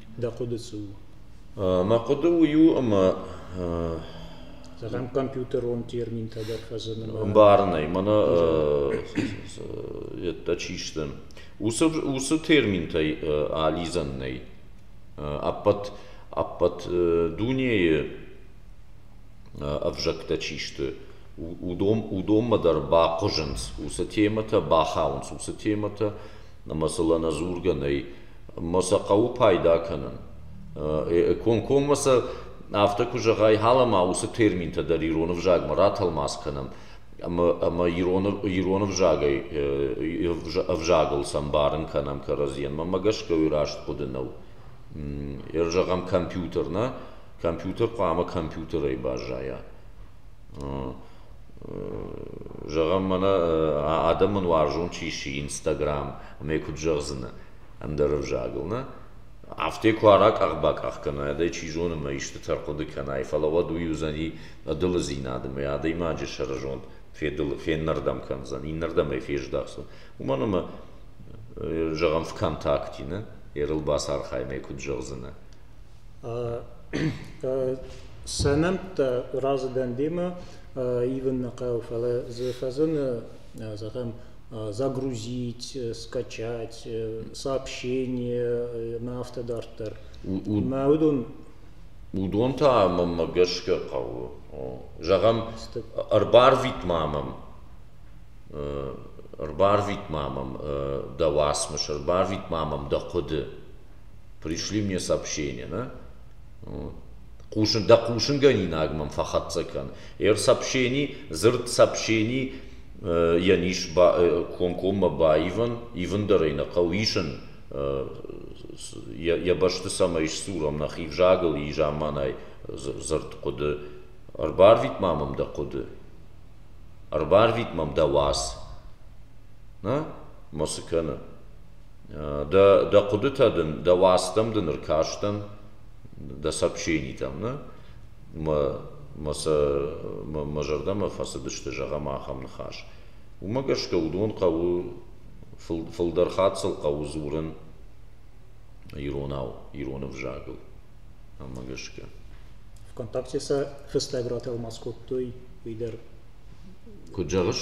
Дӕ хъуыды цы у? Мӕ хъуыды уый у, ӕмӕ Зӕгъӕм, компьютерон терминтӕ дӕр фӕзыны. Ӕмбарынӕй, мӕнӕ йеддӕ чи сты, уыцы уыцы терминтӕй алидзӕн нӕй. Ӕппӕт ӕппӕт дунейы ӕвзӕгтӕ чи сты, уыдон уыдонмӕ дӕр бахъуызынц, уыцы темӕтӕ бахауынц, уыцы темӕтӕ ӕмӕ сыл ӕнӕдзургӕ нӕй ӕмӕ сӕ хъӕуы пайда кӕнын. Комкоммӕ сӕ афтӕ куы зӕгъай, ҳалӕ-ма уыцы терминтӕ дӕр ирон ӕвзагмӕ ратӕлмац кӕнӕм ӕмӕ ӕмӕ ирон ирон ӕвзагӕй ӕвзагыл сӕмбарын кӕнӕм кӕрӕдзийӕн. Мӕнмӕ гӕсгӕ уый раст хъуыды нӕу. Ӕрзӕгъӕм, компьютер нӕ? Компьютер хъуамӕ компьютерӕй баззайа. Зӕгъӕм, мӕнӕ адӕмӕн уарзон чи сси Инстаграм ӕмӕ йӕ куыд зӕгъдзынӕ ӕндӕр ӕвзагыл, нӕ? Афтӕ куы аракъах-бакъах кӕна, ӕдӕй чи зоны ӕмӕ истытӕ хъуыды кӕнай, фӕлӕ уӕд уый уыдзӕни ӕдылыдзинад ӕмӕ адӕймаджы сӕрызонд феннӕрдӕм кӕндзӕн, иннӕрдӕм ӕй фездӕхдзӕн. Уымӕн ӕмӕ, зӕгъӕм, ВКонтакте, нӕ? Ӕрыл бацархай ӕмӕ йӕ куыд зӕгъдзынӕ? Сӕ нӕмттӕ разы дӕн демӕ ивын нӕ хъӕуы, фӕлӕ дзы фӕзыны, зӕгъӕм, загрузить, скачать сообщения ӕмӕ афтӕ дарддӕр. Мӕ уыдон Уыдон та мӕнмӕ гӕсгӕ хъӕуы. Зӕгъӕм, ӕрбарвит-ма мӕм ӕрбарвит-ма мӕм дӕ уацмыс, ӕрбарвит-ма мӕм дӕ хъуыды. пришли мне сообщение да хъусын дӕ хъусынгӕнинаг мӕм фӕхӕццӕ кӕн эр сообщени дзырд сообщени йӕн ис комкоммӕ баивын ивындӕр ӕй нӕ хъӕуы исын йӕ бӕсты цӕмӕй сдзурӕм нӕхи взагыл изаманай дзырд хъуыды ӕрбарвит ма мӕм дӕ хъуыды ӕрбарвит мӕм дӕ уац мӕ цы кӕны Дӕ дӕ хъуыдытӕ дын, дӕ уацтӕм дын ӕркастӕн, дӕ сообщенитӕм, нӕ? Мӕ мӕ сӕ мӕ мӕ зӕрдӕмӕ фӕцыдысты зӕгъӕм ахӕм ныхас. Уымӕ гӕсгӕ уыдон хъӕуы фыл фылдӕр хатт сыл хъӕуы дзурын иронау, ирон ӕвзагыл. Ӕмӕ гӕсгӕ. Вконтакте сӕ фыстӕг ратӕлмац кодтой, уый дӕр. Куыд зӕгъыс?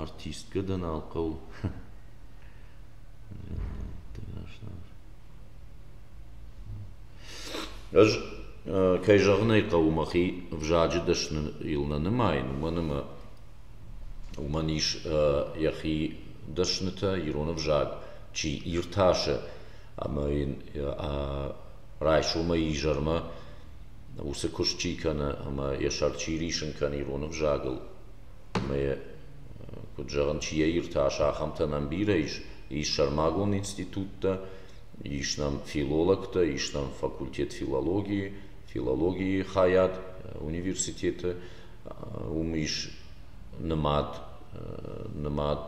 Артисткӕ-дӕн ӕнхъӕл Ӕз, кӕй зӕгъын ӕй хъӕуы, мӕхи ӕвзаджы дӕсныл нӕ нымайын, уымӕн ӕмӕ уымӕн ис йӕхи дӕснытӕ, ирон ӕвзаг чи иртасы ӕмӕ йын райсомӕй изӕрмӕ уыцы куыст чи кӕны ӕмӕ йӕ сӕр чи рисын кӕны ирон ӕвзагыл. Ӕмӕ, куыд зӕгъын, чи йӕ иртас, ахӕмтӕн ӕмбирӕ ис, ис сӕрмагонд институттӕ, ис нӕм филологтӕ, ис нӕм факультет филологийы, филологийы хайад университеты, уым ис нымад, нымад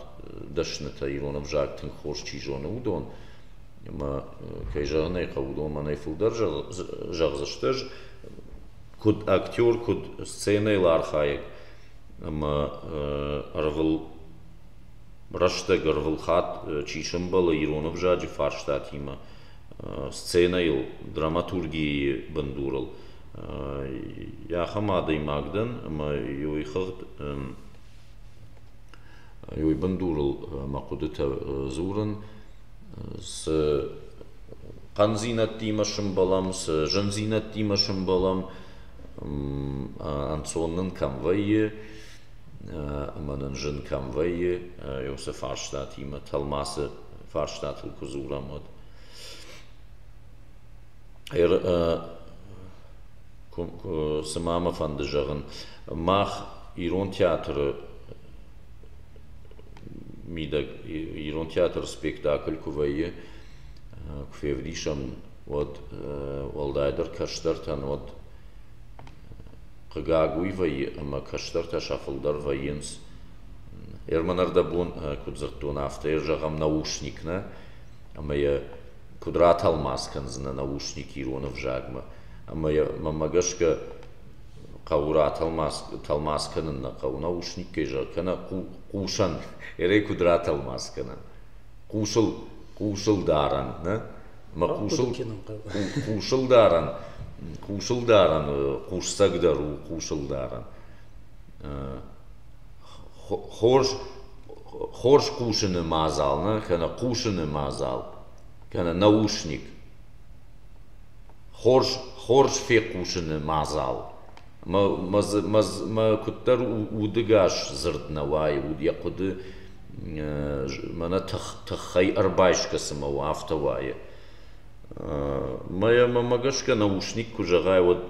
дӕснытӕ, ирон ӕвзаг тынг хорз чи зоны, уыдон. Ӕмӕ, кӕй зӕгъын ӕй хъӕуы, уыдон мӕнӕй фылдӕр зӕгъдзысты, ӕз куыд актер, куыд сценӕйыл архайӕг ӕмӕ ӕрвыл рӕстӕг, ӕрвылхатт чи сӕмбӕлы ирон ӕвзаджы фарстатимӕ, сценӕйыл, драматургийы бындурыл, йӕ ахӕм адӕймаг дӕн ӕмӕ уый хыгъд уый бындурыл мӕ хъуыдытӕ дзурын цы хъӕндзинӕдтимӕ сӕмбӕлӕм, цы зындзинӕдтимӕ сӕмбӕлӕм, ӕнцон нын кӕм вӕййы ӕмӕ нын зын кӕм вӕййы, уыцы фарстатимӕ тӕлмацы фарстатыл куы дзурӕм, уӕд. Цыма мӕ фӕнды зӕгъын, мах ирон театры мидӕг ирон театры спектакль куы вӕййы куы февдисӕм уӕд уӕлдайдӕр кӕстӕртӕн уӕд хъыгаг уый вӕййы ӕмӕ кӕстӕртӕ сӕ фылдӕр вӕййынц ӕрмӕнӕрдӕбон куыд дзырдтон афтӕ йӕ зӕгъӕм наушник нӕ ӕмӕ йӕ куыд ратӕлмац кӕндзынӕ наушник ирон ӕвзагмӕ ӕмӕ мӕмӕ гӕсгӕ хъӕуы ра тӕлмац кӕнын нӕ хъӕуы. Нӕ ус никӕй зӕгъ кӕнӕ хъусӕн, ӕрӕй куыд ратӕлмац кӕнӕм. Хъусыл, хъусыл дарӕн, нӕ? Мӕ хъусыл, хъусыл дарӕн, хъусыл дарӕн хъусцагдӕр у хъусыл дарӕн. Хорз, хорз хъусыны мадзал, нӕ? Кӕнӕ хъусыны мадзал, кӕнӕ наушник. Хорз фехъусыны мадзал мӕ куыддӕр удыгас дзырд нӕ уайы, йӕ хъуыды мӕнӕ тыххӕй ӕрбайсгӕ цыма у, афтӕ уайы. Мӕнмӕ гӕсгӕ нӕ ушник куы зӕгъай, уӕд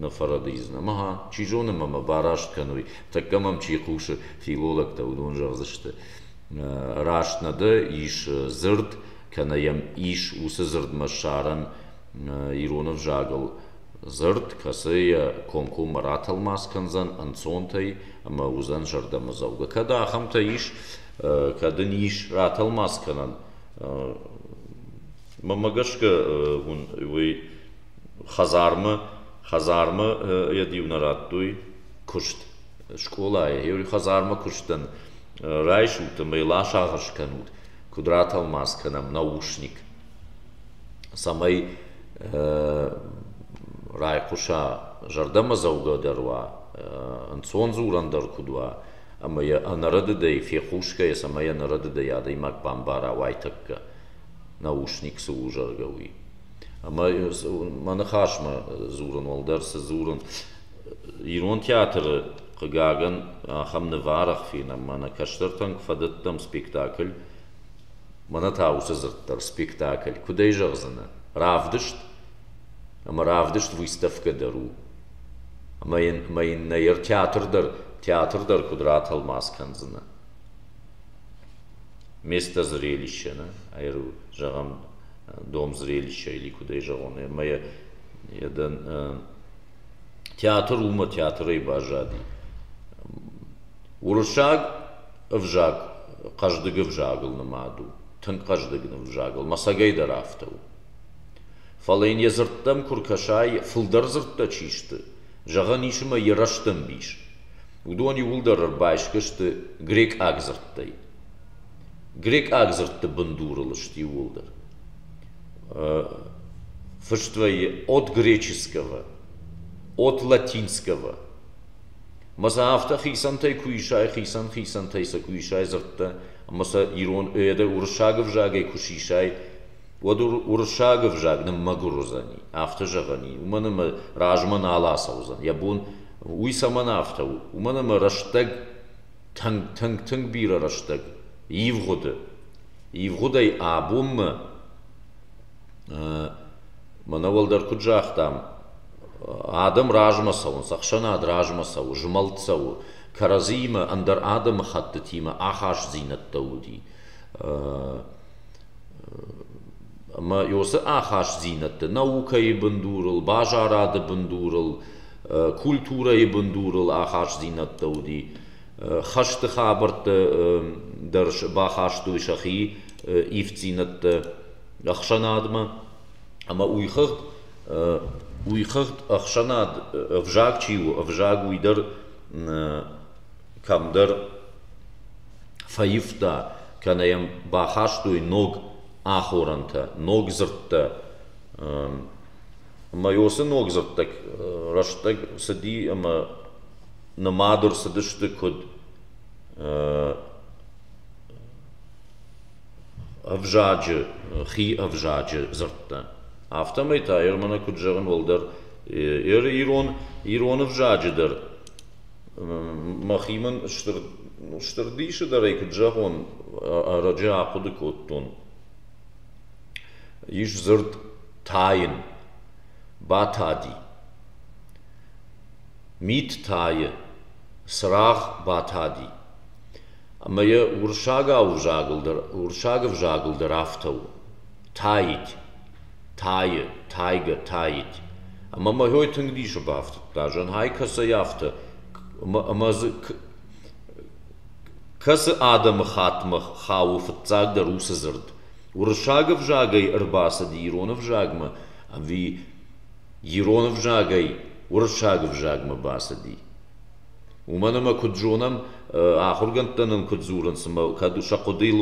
нӕ фӕрӕдийдзынӕ. Ӕмӕ ха, чи зоны мӕ мӕ бараст кӕной, тӕккӕ мӕм чи хъусы, филологтӕ, уыдон зӕгъдзысты, раст нӕ дӕ, ис дзырд кӕнӕ йӕм ис уыцы дзырдмӕ ссарӕн ирон ӕвзагыл дзырд, кӕцы йӕ комкоммӕ ратӕлмац кӕндзӕн ӕнцонтӕй ӕмӕ уыдзӕн зӕрдӕмӕдзӕугӕ. Кӕд ахӕмтӕ ис, кӕд ын ис ратӕлмац кӕнӕн, мӕмӕ гӕсгӕ уын уый хӕдзармӕ, хӕдзармӕ йӕ диу нӕ радтой куыст. Скъолайы йӕ хӕдзармӕ куыстӕн райсут ӕмӕ йыл ацагъыс кӕнут. куд ратӕлмац кӕнӕм наушник, цӕмӕй райхъуса, зӕрдӕмӕдзӕугӕ дӕр уа, ӕнцон дзурӕн дӕр куд уа, ӕма йӕ ӕнӕрӕдыдӕй фехъусгӕйӕ, цӕмӕй ӕнӕрӕдыдӕй адӕймаг бамбара уайтӕккӕ, наушник цы у, зӕгъгӕ, уый. Ӕмӕ мӕ ныхасмӕ дзурын уӕлдӕр цы дзурын, Ирон театры, хъыгагӕн, ахӕм ныв арӕх фенӕм, мӕнӕ кӕстӕртӕн куы фӕдӕттӕм спектакль, мӕнӕ та уыцы дзырд дӕр, спектакль, куыд ӕй зӕгъдзынӕ, равдыст, ӕмӕ равдыст выставкӕ дӕр у. Ӕмӕ йын, ӕмӕ йын нӕ йӕ театр дӕр, театр дӕр куыд ратӕлмац кӕндзынӕ? Место зрелища, нӕ? Ӕру, зӕгъӕм, дом зрелища или куыд ӕй зӕгъон, ӕмӕ йӕ, йӕ дӕн, Театр уымӕ театрӕй баззади. Уырыссаг ӕвзаг хъӕздыг ӕвзагыл нымад у, тынг хъӕздыг ӕвзагыл, мӕцӕгӕй дӕр афтӕ у. Фӕлӕ йын йӕ дзырдтӕм куы ркӕсай, фылдӕр дзырдтӕ чи сты, зӕгъӕн ис ӕмӕ йӕ рӕстӕмбис, уыдон иууылдӕр ӕрбайсгӕ сты грекъаг дзырдтӕй. Грекъаг дзырдты бындурыл сты иууылдӕр. Фыст вӕййы от греческого, от латинского. Ӕмӕ сӕ афтӕ хицӕнтӕй куы исай, хицӕн хицӕнтӕй сӕ куы исай дзырдтӕ, ӕмӕ сӕ ирон ӕдде уырыссаг ӕвзагӕй куы сисай, уӕд уырыссаг ӕвзаг ныммӕгуыр уыдзӕни, афтӕ зӕгъӕни, уымӕн ӕмӕ размӕ нал ацӕудзӕн. Йӕ бон уый цӕмӕн афтӕ у? Уымӕн ӕмӕ рӕстӕг Тынг-тынг-тынг бирӕ рӕстӕг ивгъуыды, ивгъуыдӕй абонмӕ мӕнӕ уӕлдӕр куыд загътам, адӕм размӕ цӕуынц, ӕхсӕнад размӕ цӕуы, змӕлд цӕуы, кӕрӕдзиимӕ, ӕндӕр адӕмыхӕттытимӕ ахастдзинӕдтӕ уыди. Ӕмӕ уыцы ахастдзинӕдты наукӕйы бындурыл, базарады бындурыл культурӕйы бындурыл ахастдзинӕдтӕ уыди, хӕсты хабӕрттӕ дӕр бахастой сӕхи ивддзинӕдтӕ ӕхсӕнадмӕ ӕмӕ уыйхыгъд уыйхыгъд ӕхсӕнад ӕвзаг чи у, ӕвзаг уый дӕр кӕмдӕр фӕивта, кӕнӕ йӕм бахастой ног ахорӕнтӕ, ног дзырдтӕ. Майосы ног дзырдтӕг рӕстӕг цыди ӕмӕ нымад ӕрцыдысты куыд ӕвзаджы, хи ӕвзаджы дзырдтӕ. Афтӕмӕй та Ермӕнӕ куыд зӕгъын уӕлдӕр еры ирон ирон ӕвзаджы дӕр. Мӕхи мын стыр стыр дисы дӕрӕй куыд зӕгъон, ӕрӕджы ахъуыды кодтон. Ис дзырд тайын, батади. Мит тайы, цырагъ батади. Ӕмӕ йӕ уырыссагау ӕвзагыл дӕр, уырыссаг ӕвзагыл дӕр афтӕ у: тайыть, тайы, тайгӕ, таить. Ӕмӕ мӕхой тынг дисы бафтыдта, зӕнхӕй кӕцӕй афтӕ, ӕмӕ дзы кӕцы адӕмы хаттмӕ хауы фыццагдӕр уыцы дзырд. Уырыссаг ӕвзагӕй ӕрбацыд ирон ӕвзагмӕ ӕви ирон ӕвзагӕй уырыссаг ӕвзагмӕ бацыди. Уымӕн ӕмӕ куыд зонӕм, ахуыргӕндтӕ нын куыд дзурынц, ӕмӕ кӕд сӕ хъуыдыйыл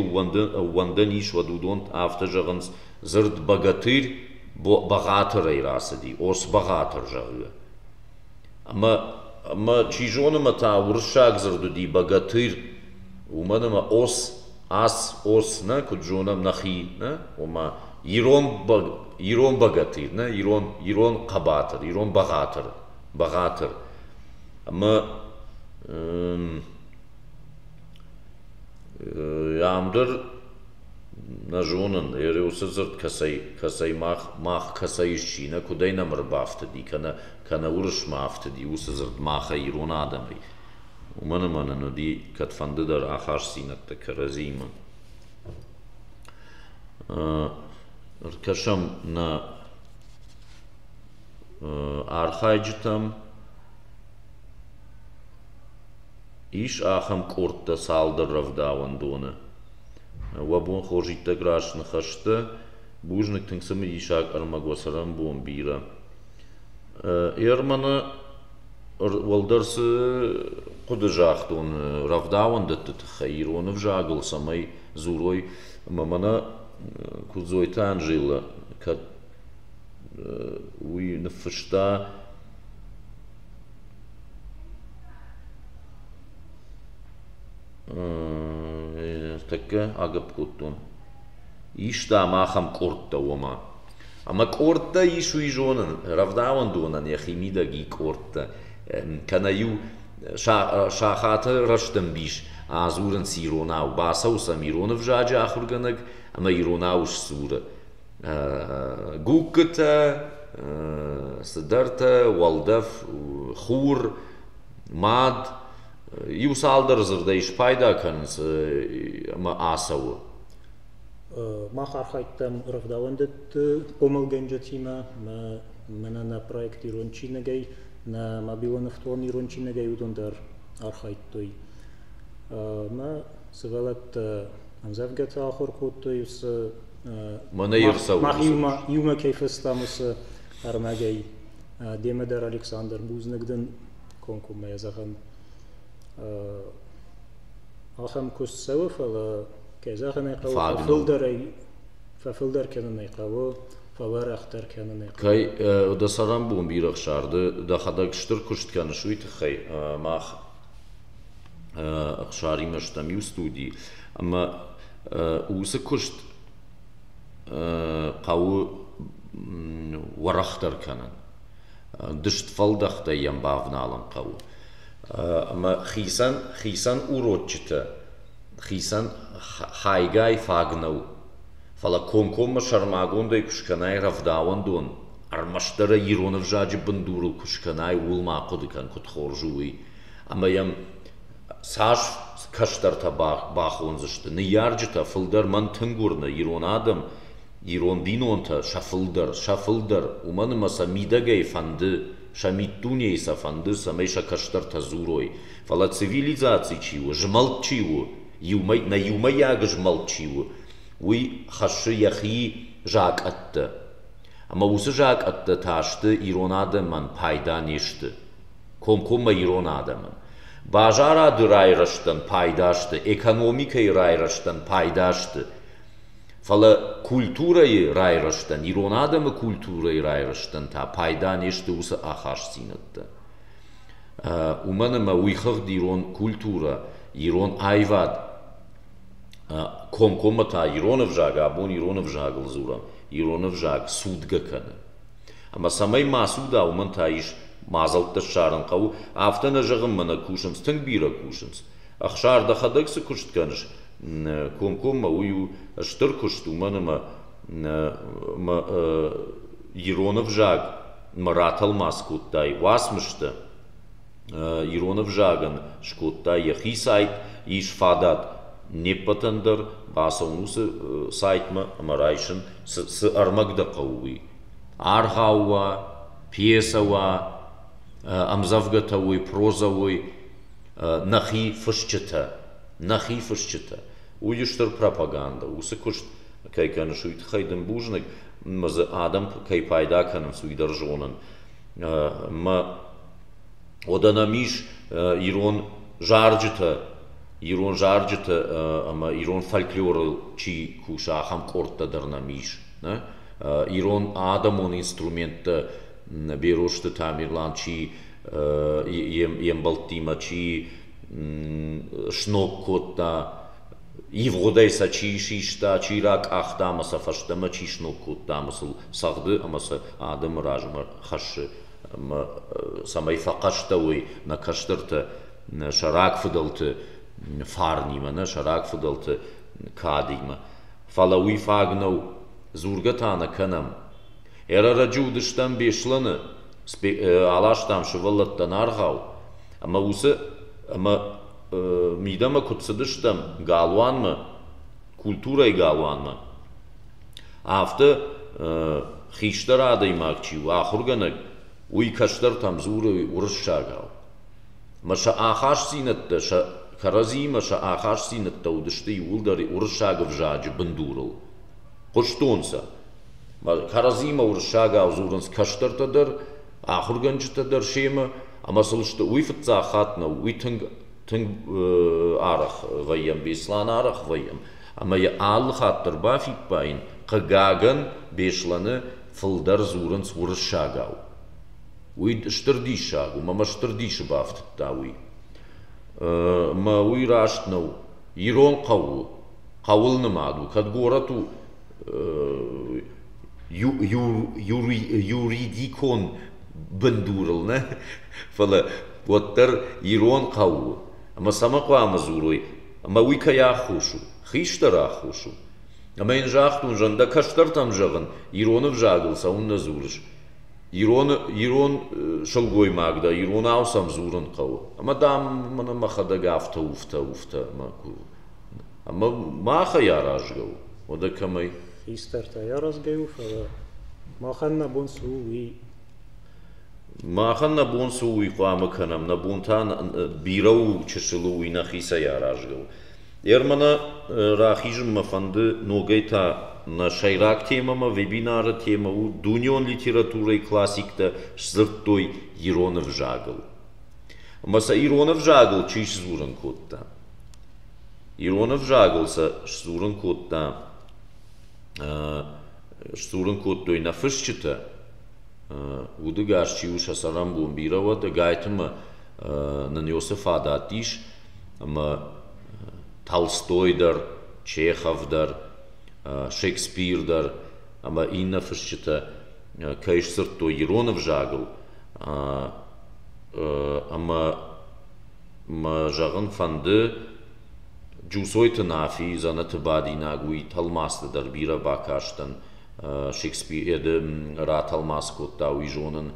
ӕууӕндӕн ис, уӕд уыдон афтӕ зӕгъынц, дзырд бӕгатырь бӕгъатырӕй рацыди, ос бӕгъатыр, зӕгъгӕ. Ӕмӕ, ӕмӕ чи зоны ма та уырыссаг дзырд уыди богатырь, уымӕн ӕмӕ ос, ас, ос, нӕ, куыд зонӕм нӕхи, нӕ, ома ирон бог, ирон богатырь, нӕ, ирон, ирон хъӕбатыр, ирон бӕгъатыр, бӕгъатыр. Ӕмӕ ам дӕр нӕ зонын, ӕрӕуыцы дзырд кӕцӕй, кӕцӕй мах, мах кӕцӕй ысчи, нӕ куыдӕй нӕм ӕрбафтыди, кӕнӕ кӕнӕ Уырысмӕ афтыди, уыцы дзырд махӕй, ирон адӕмӕй, уымӕн ӕмӕ нын уыди кӕдфӕндыдӕр ахастдзинӕдтӕ кӕрӕдзимӕ. Ӕркӕсӕм нӕ архайджытӕм. Ис ахӕм къордтӕ цалдӕр рӕвдауӕндоны. Уӕ бон хорз иттӕг раст ныхӕстӕ. Бузныг тынг цымыдисаг ӕрмӕг уӕ цӕрӕнбон бирӕ. Ерманы уӕлдӕр цы хъуыды загътон рӕвдауӕндӕтты тыххӕй ирон ӕвзагыл, цӕмӕй дзурой ӕмӕ мӕнӕ Куыдзойты Анжелӕ кӕд уый ныффыста тӕккӕ агӕпп кодтон, иста ма ахӕм къордтӕ, ома Ӕмӕ къордтӕ ис уый зонын, рӕвдауӕндонӕн йӕхи мидӕг и къордтӕ, кӕнӕ-иу сахаты рӕстӕмбис адзурынц иронау, бацӕуы сӕм ирон ӕвзаджы ахуыргӕнӕг ӕмӕ иронау сдзуры. Гугкытӕ, цыдӕртӕ, уӕлдӕф, хур, мад, иу цалдӕр дзырдӕй спайда кӕнынц ӕмӕ ацӕуы. Мах архайдтам рӕвдауӕндӕтты хъомылгӕнджытимӕ, мӕнӕ нӕ проект ирон чиныгӕй, нӕ мобилон ӕфтон ирон чиныгӕй уыдон дӕр архайдтой. Мӕ сывӕллӕттӕ ӕмдзӕвгӕтӕ ахуыр кодтой уыцы Мӕнӕ йе рцӕуы мах иумӕ иумӕ кӕй фестӕм, уыцы ӕрмӕгӕй. Демӕ дӕр Александр бузныг дын комкоммӕ зӕгъӕм. Ахӕм куыст цӕуы, фӕлӕ, кӕй зӕгъын ӕй хъӕуы, фӕфылдӕрӕй фӕфылдӕр кӕнын ӕй хъӕуы, фӕуӕрӕхдӕр кӕнын ӕй хъӕуы. Кӕй дӕ цӕрӕнбон бирӕ хсарды, дӕхӕдӕг стыр куыст кӕныс, уый тыххӕй мах Ӕхсаримӕ стӕм иу студи, ӕмӕ уыцы куыст хъӕуы уӕрӕхдӕр кӕнын. Дыст фӕлдӕхтӕй йӕм бавналын хъӕуы. Ӕмӕ хицӕн, хицӕн уроччытӕ, хицӕн хайгай фаг нӕу. Фӕлӕ комкоммӕ сӕрмагондӕй куы скӕнай рӕвдауӕндон, ӕрмӕстдӕр ӕй ирон ӕвзаджы бындурыл куы скӕнай, ууыл ма хъуыды кӕн, куыд хорз у, уый. Ӕмӕ йӕм цас кӕстӕртӕ бахондзысты. Ныййарджытӕ, фылдӕр мӕн тынг уырны, ирон адӕм Ирон бинонтӕ сӕ фылдӕр, сӕ фылдӕр, уымӕн ӕмӕ сӕ мидӕгӕй фӕнды, сӕ миддунейы сӕ фӕнды, цӕмӕй сӕ кӕстӕртӕ дзурой, фӕлӕ цивилизаци чи у, змӕлд чи у, иумӕ, нӕ иумӕйаг змӕлд чи у, уый хӕссы йӕхи закъӕттӕ. Ӕмӕ уыцы закъӕттӕ та сты ирон адӕмӕн пайда не сты. Комкоммӕ ирон адӕмӕн. Базарады райрӕзтӕн пайда сты, экономикӕйы райрӕзтӕн пайда сты. Фӕлӕ культурӕйы райрӕзтӕн, ирон адӕмы культурӕйы райрӕзтӕн та пайда не сты уыцы ахастдзинӕдтӕ. Уымӕн ӕмӕ уый хыгъд ирон культурӕ, ирон аивад комкоммӕ та ирон ӕвзаг, абон ирон ӕвзагыл дзурӕм, ирон ӕвзаг цудгӕ кӕны. Ӕмӕ цӕмӕй ма цуда, уымӕн та ис мадзӕлттӕ ссарын хъӕуы, афтӕ нӕ зӕгъынмӕ нӕ кусынц, тынг бирӕ кусынц. Ӕхсар дӕхӕдӕг цы куыст кӕныс, комкоммӕ уый у стыр куыст, уымӕн ӕмӕ ирон ӕвзагмӕ ратӕлмац кодтай уацмыстӕ, ирон ӕвзагӕн скодтай йӕхи сайт, ис фадат не ппӕтӕн дӕр бацӕуын уыцы сайтмӕ ӕмӕ райсын, цы ӕрмӕг дӕ хъӕуы, уый. Аргъау уа, пьесӕ уа, ӕмдзӕвгӕтӕ уой, прозӕ уой, нӕхи фысджытӕ. нӕхи фысджытӕ, уый у стыр пропагандӕ, уыцы куыст кӕй кӕныс, уый тыххӕй дын бузныг, ӕмӕ дзы адӕм кӕй пайда кӕнынц, уый дӕр зонын. Ӕмӕ уӕдӕ нӕм ис ирон зарджытӕ, ирон зарджытӕ ӕмӕ ирон фольклорыл чи куса, ахӕм къордтӕ дӕр нӕм ис. Ирон адӕмон инструменттӕ Берозты Тамерлан чи йе мбӕлттимӕ, чи сног кодта, ивгъуыдӕй сӕ чи систа, чи ракъахта ӕмӕ сӕ фӕстӕмӕ чи сног кодта ӕмӕ сыл цӕгъды ӕмӕ сӕ адӕмы размӕ хӕссы ӕмӕ цӕмӕй фӕхъӕстӕуой нӕ кӕстӕртӕ сӕ рагфыдӕлты фарнимӕ, нӕ сӕ рагфыдӕлты кадимӕ. Фӕлӕ уый фаг нӕу. Дзургӕ та нӕ кӕнӕм, Ӕрӕрӕджы уыдыстӕм Беслӕны, аластам сывӕллӕттӕн аргъау, ӕмӕ уыцы ӕмӕ мидӕмӕ куыд цыдыстӕм галуанмӕ, культурӕйы галуанмӕ, афтӕ хистӕр адӕймаг чи у, ахуыргӕнӕг, уый кӕстӕртӕм дзуры уырыссагау. Ӕмӕ сӕ ахастдзинӕдтӕ, сӕ кӕрӕдзиимӕ сӕ ахастдзинӕдтӕ уыдысты иууылдӕр уырыссаг ӕвзаджы бындурыл. хъуыстонцӕ. Кӕрӕдзимӕ уырыссагау дзурынц кӕстӕртӕ дӕр, ахуыргӕнджытӕ дӕр семӕ, ӕмӕ сыл сты. Уый фыццаг хатт нӕу, уый тынг тынг арӕх вӕййӕм, Беслан арӕх вӕййӕм. Ӕмӕ йӕ алы хатт дӕр бафиппайын, хъыгагӕн, Беслӕны фылдӕр дзурынц уырыссагау. Уый стыр диссаг у, мӕ стыр дисы бафтыдта уый. Мӕ уый раст нӕу. Ирон хъӕуыл хъӕуыл нымад у, кӕд горӕт у юридикон бындурыл нӕ, фӕлӕ уӕддӕр ирон хъӕу у. Ӕмӕ цӕмӕ хъуамӕ дзурой, ӕмӕ уый кӕй аххос у, хистӕр аххос у. Ӕмӕ йын загътон, зӕн дӕ кӕстӕртӕм зӕгъын, ирон ӕвзагыл цӕуыннӕ дзурыс. Ирон, ирон сылгоймаг дӕ, иронау сӕм дзурын хъӕуы. Ӕмӕ, дам, мӕнӕ мӕхӕдӕг афтӕ, уфтӕ, уфтӕ, мӕ кур. Ӕмӕ махӕй аразгӕ у, уӕдӕ кӕмӕй? Хистӕртӕй аразгӕ у, фӕлӕ махӕн нӕ бон цы у, уый. Махӕн нӕ бон цы у, уый хъуамӕ кӕнӕм. Нӕ бон та бирӕ у, чысыл у, уый нӕхицӕй аразгӕ у. Ермӕнӕ рахизын мӕ фӕнды ногӕй та нӕ сӕйраг темӕмӕ, вебинары темӕ у дунеон литературӕйы классиктӕ сдзырдтой ирон ӕвзагыл. Ӕмӕ сӕ ирон ӕвзагыл чи сдзурын кодта? Ирон ӕвзагыл сӕ сдзурын кодта сдзурын кодтой нӕ фысджытӕ, удыгас чи у сӕ цӕрӕнбон бирӕ уӕд, Гайтымы нын Иосы фадат ис, ӕмӕ Толстой дӕр, Чехов дӕр, Шекспир дӕр ӕмӕ иннӕ фысджытӕ кӕй сдзырдтой ирон ӕвзагыл, ӕмӕ Мӕ зӕгъын фӕнды, Джусойты Нафи дзӕнӕты бадинаг уый тӕлмацты дӕр бирӕ бакастӕн. Шекспиды ратӕлмац кодта, уый зонын.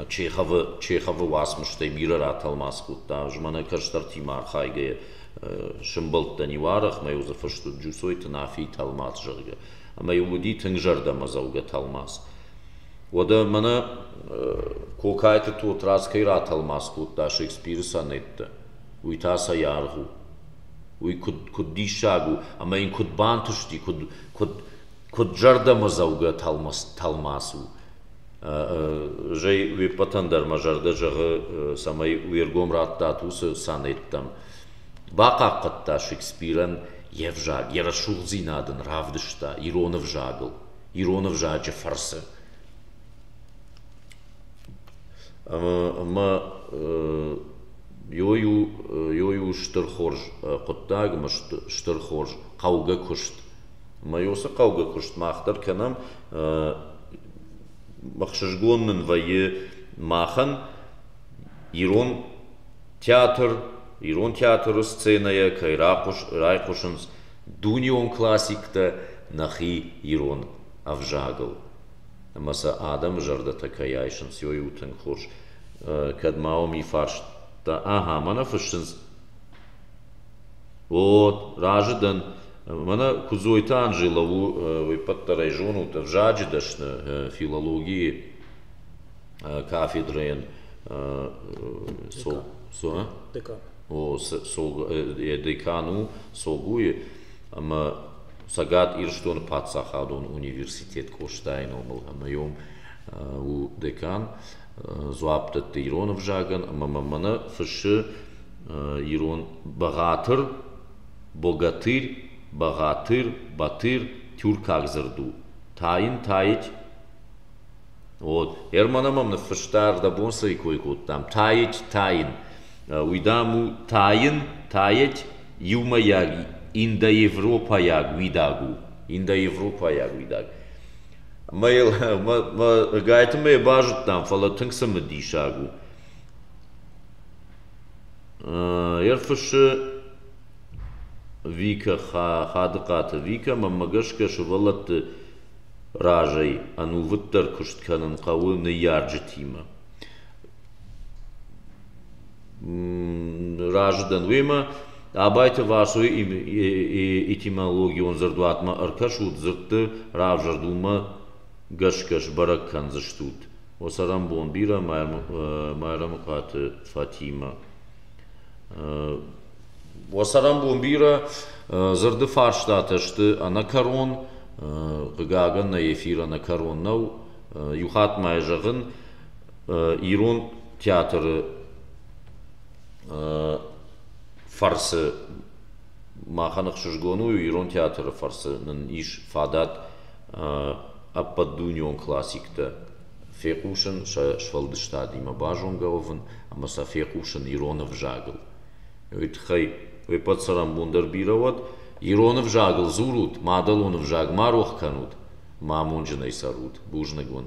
Чеховы, Чеховы уацмыстӕй бирӕ ратӕлмац кодта. Змӕнӕ кӕстӕртимӕ архайгӕйӕ сӕмбӕлдтӕн-иу арӕх, мӕ иу дзы фыст уыд Джусойты Нафийы тӕлмац, зӕгъгӕ. Ӕмӕ-иу уыди тынг зӕрдӕмӕдзӕугӕ тӕлмац. Уӕдӕ мӕнӕ Кокайты Тотрадз кӕй ратӕлмац кодта Шекспиры сонеттӕ, уый та цӕй аргъ у? Уый куыд диссаг у ӕмӕ йын куыд бантысти, куыд зӕрдӕмӕдзӕугӕ тӕлмац у! Зӕй уе ппӕтӕн дӕр мӕ зӕрдӕ зӕгъы, цӕмӕй уе ргом радтат уыцы сонеттӕм. Бахъахъхъӕдта Шекспирӕн йе взаг, йӕ рӕсугъддзинад ын равдыста ирон ӕвзагыл. ирон ӕвзаджы фӕрцы. Ӕмӕ ёй у ёй у стыр хорз хъуыддаг ӕмӕ стыр хорз хъӕугӕ куыст. Ӕмӕ ёй уыцы хъӕугӕ куыст мах дӕр кӕнӕм. Ӕхсызгон нын вӕййы махӕн ирон театр, ирон театры сценӕйӕ кӕй райхъуысынц дунеон классиктӕ нӕхи ирон ӕвзагыл ӕмӕ сӕ адӕмы зӕрдӕтӕ кӕй айсынц ой у тынг хорз кӕд ма уым фарста ахӕм мӕнӕ фыссынц о разы дӕн мӕнӕ куыдзойты анжела у уеппӕт дӕр ӕй зонут ӕвзаджы дӕсны филологийы кафедрӕйӕн декан декан у Согуйы ӕмӕ Цӕгат Ирыстоны паддзахадон университет Къостайы номыл ӕмӕ у декан, дзуапп дӕтты ирон ӕвзагӕн ӕмӕ мӕ мӕнӕ фыссы ирон бӕгъатыр, богатырь, бӕгъатыр, батыр, тюркаг дзырд у, тайын, таить. Вот. Германы мӕм ныффыста, ӕрдӕбон цӕй кой кодтам. Таить, тайын. уый дам у тайын тайӕть иумӕйаг индоевропӕйаг уидаг у индоевропӕйаг уидаг ӕмӕ йыл мӕ гайты мӕ базыдтам фӕлӕ тынг цымыдисаг у ӕрфыссы викӕ хадыхъаты викӕ мӕнмӕ гӕсгӕ сывӕллӕтты разӕй ӕнувыддӕр куыст кӕнын хъӕуы ныййарджытимӕ Разы дӕн уемӕ. Абайты Васойы этимологион дзырдуатмӕ ӕркӕсут, дзырдты равзӕрд уымӕ гӕсгӕ сбӕрӕг кӕндзыстут. О цӕрӕнбон бирӕ Майрӕмыхъаты Фатимӕ. О цӕрӕнбон бирӕ. Дзырды фарстатӕ сты ӕнӕкӕрон. Хъыгагӕн, нӕ эфир ӕнӕкӕрон нӕу. Иу хатт ма йӕ зӕгъын. ирон театры фӕрцы махӕн ӕхсызгон у ирон театры фӕрцы нын ис фадат ӕппӕтдунеон классиктӕ фехъусын сӕ сфӕлдыстадимӕ базонгӕ уӕвын ӕмӕ сӕ фехъусын ирон ӕвзагыл уый тыххӕй уеппӕт цӕрӕнбон дӕр бирӕ уӕд ирон ӕвзагыл дзурут мадӕлон ӕвзаг ма рох кӕнут ма амонджынӕй цӕрут бузныг уын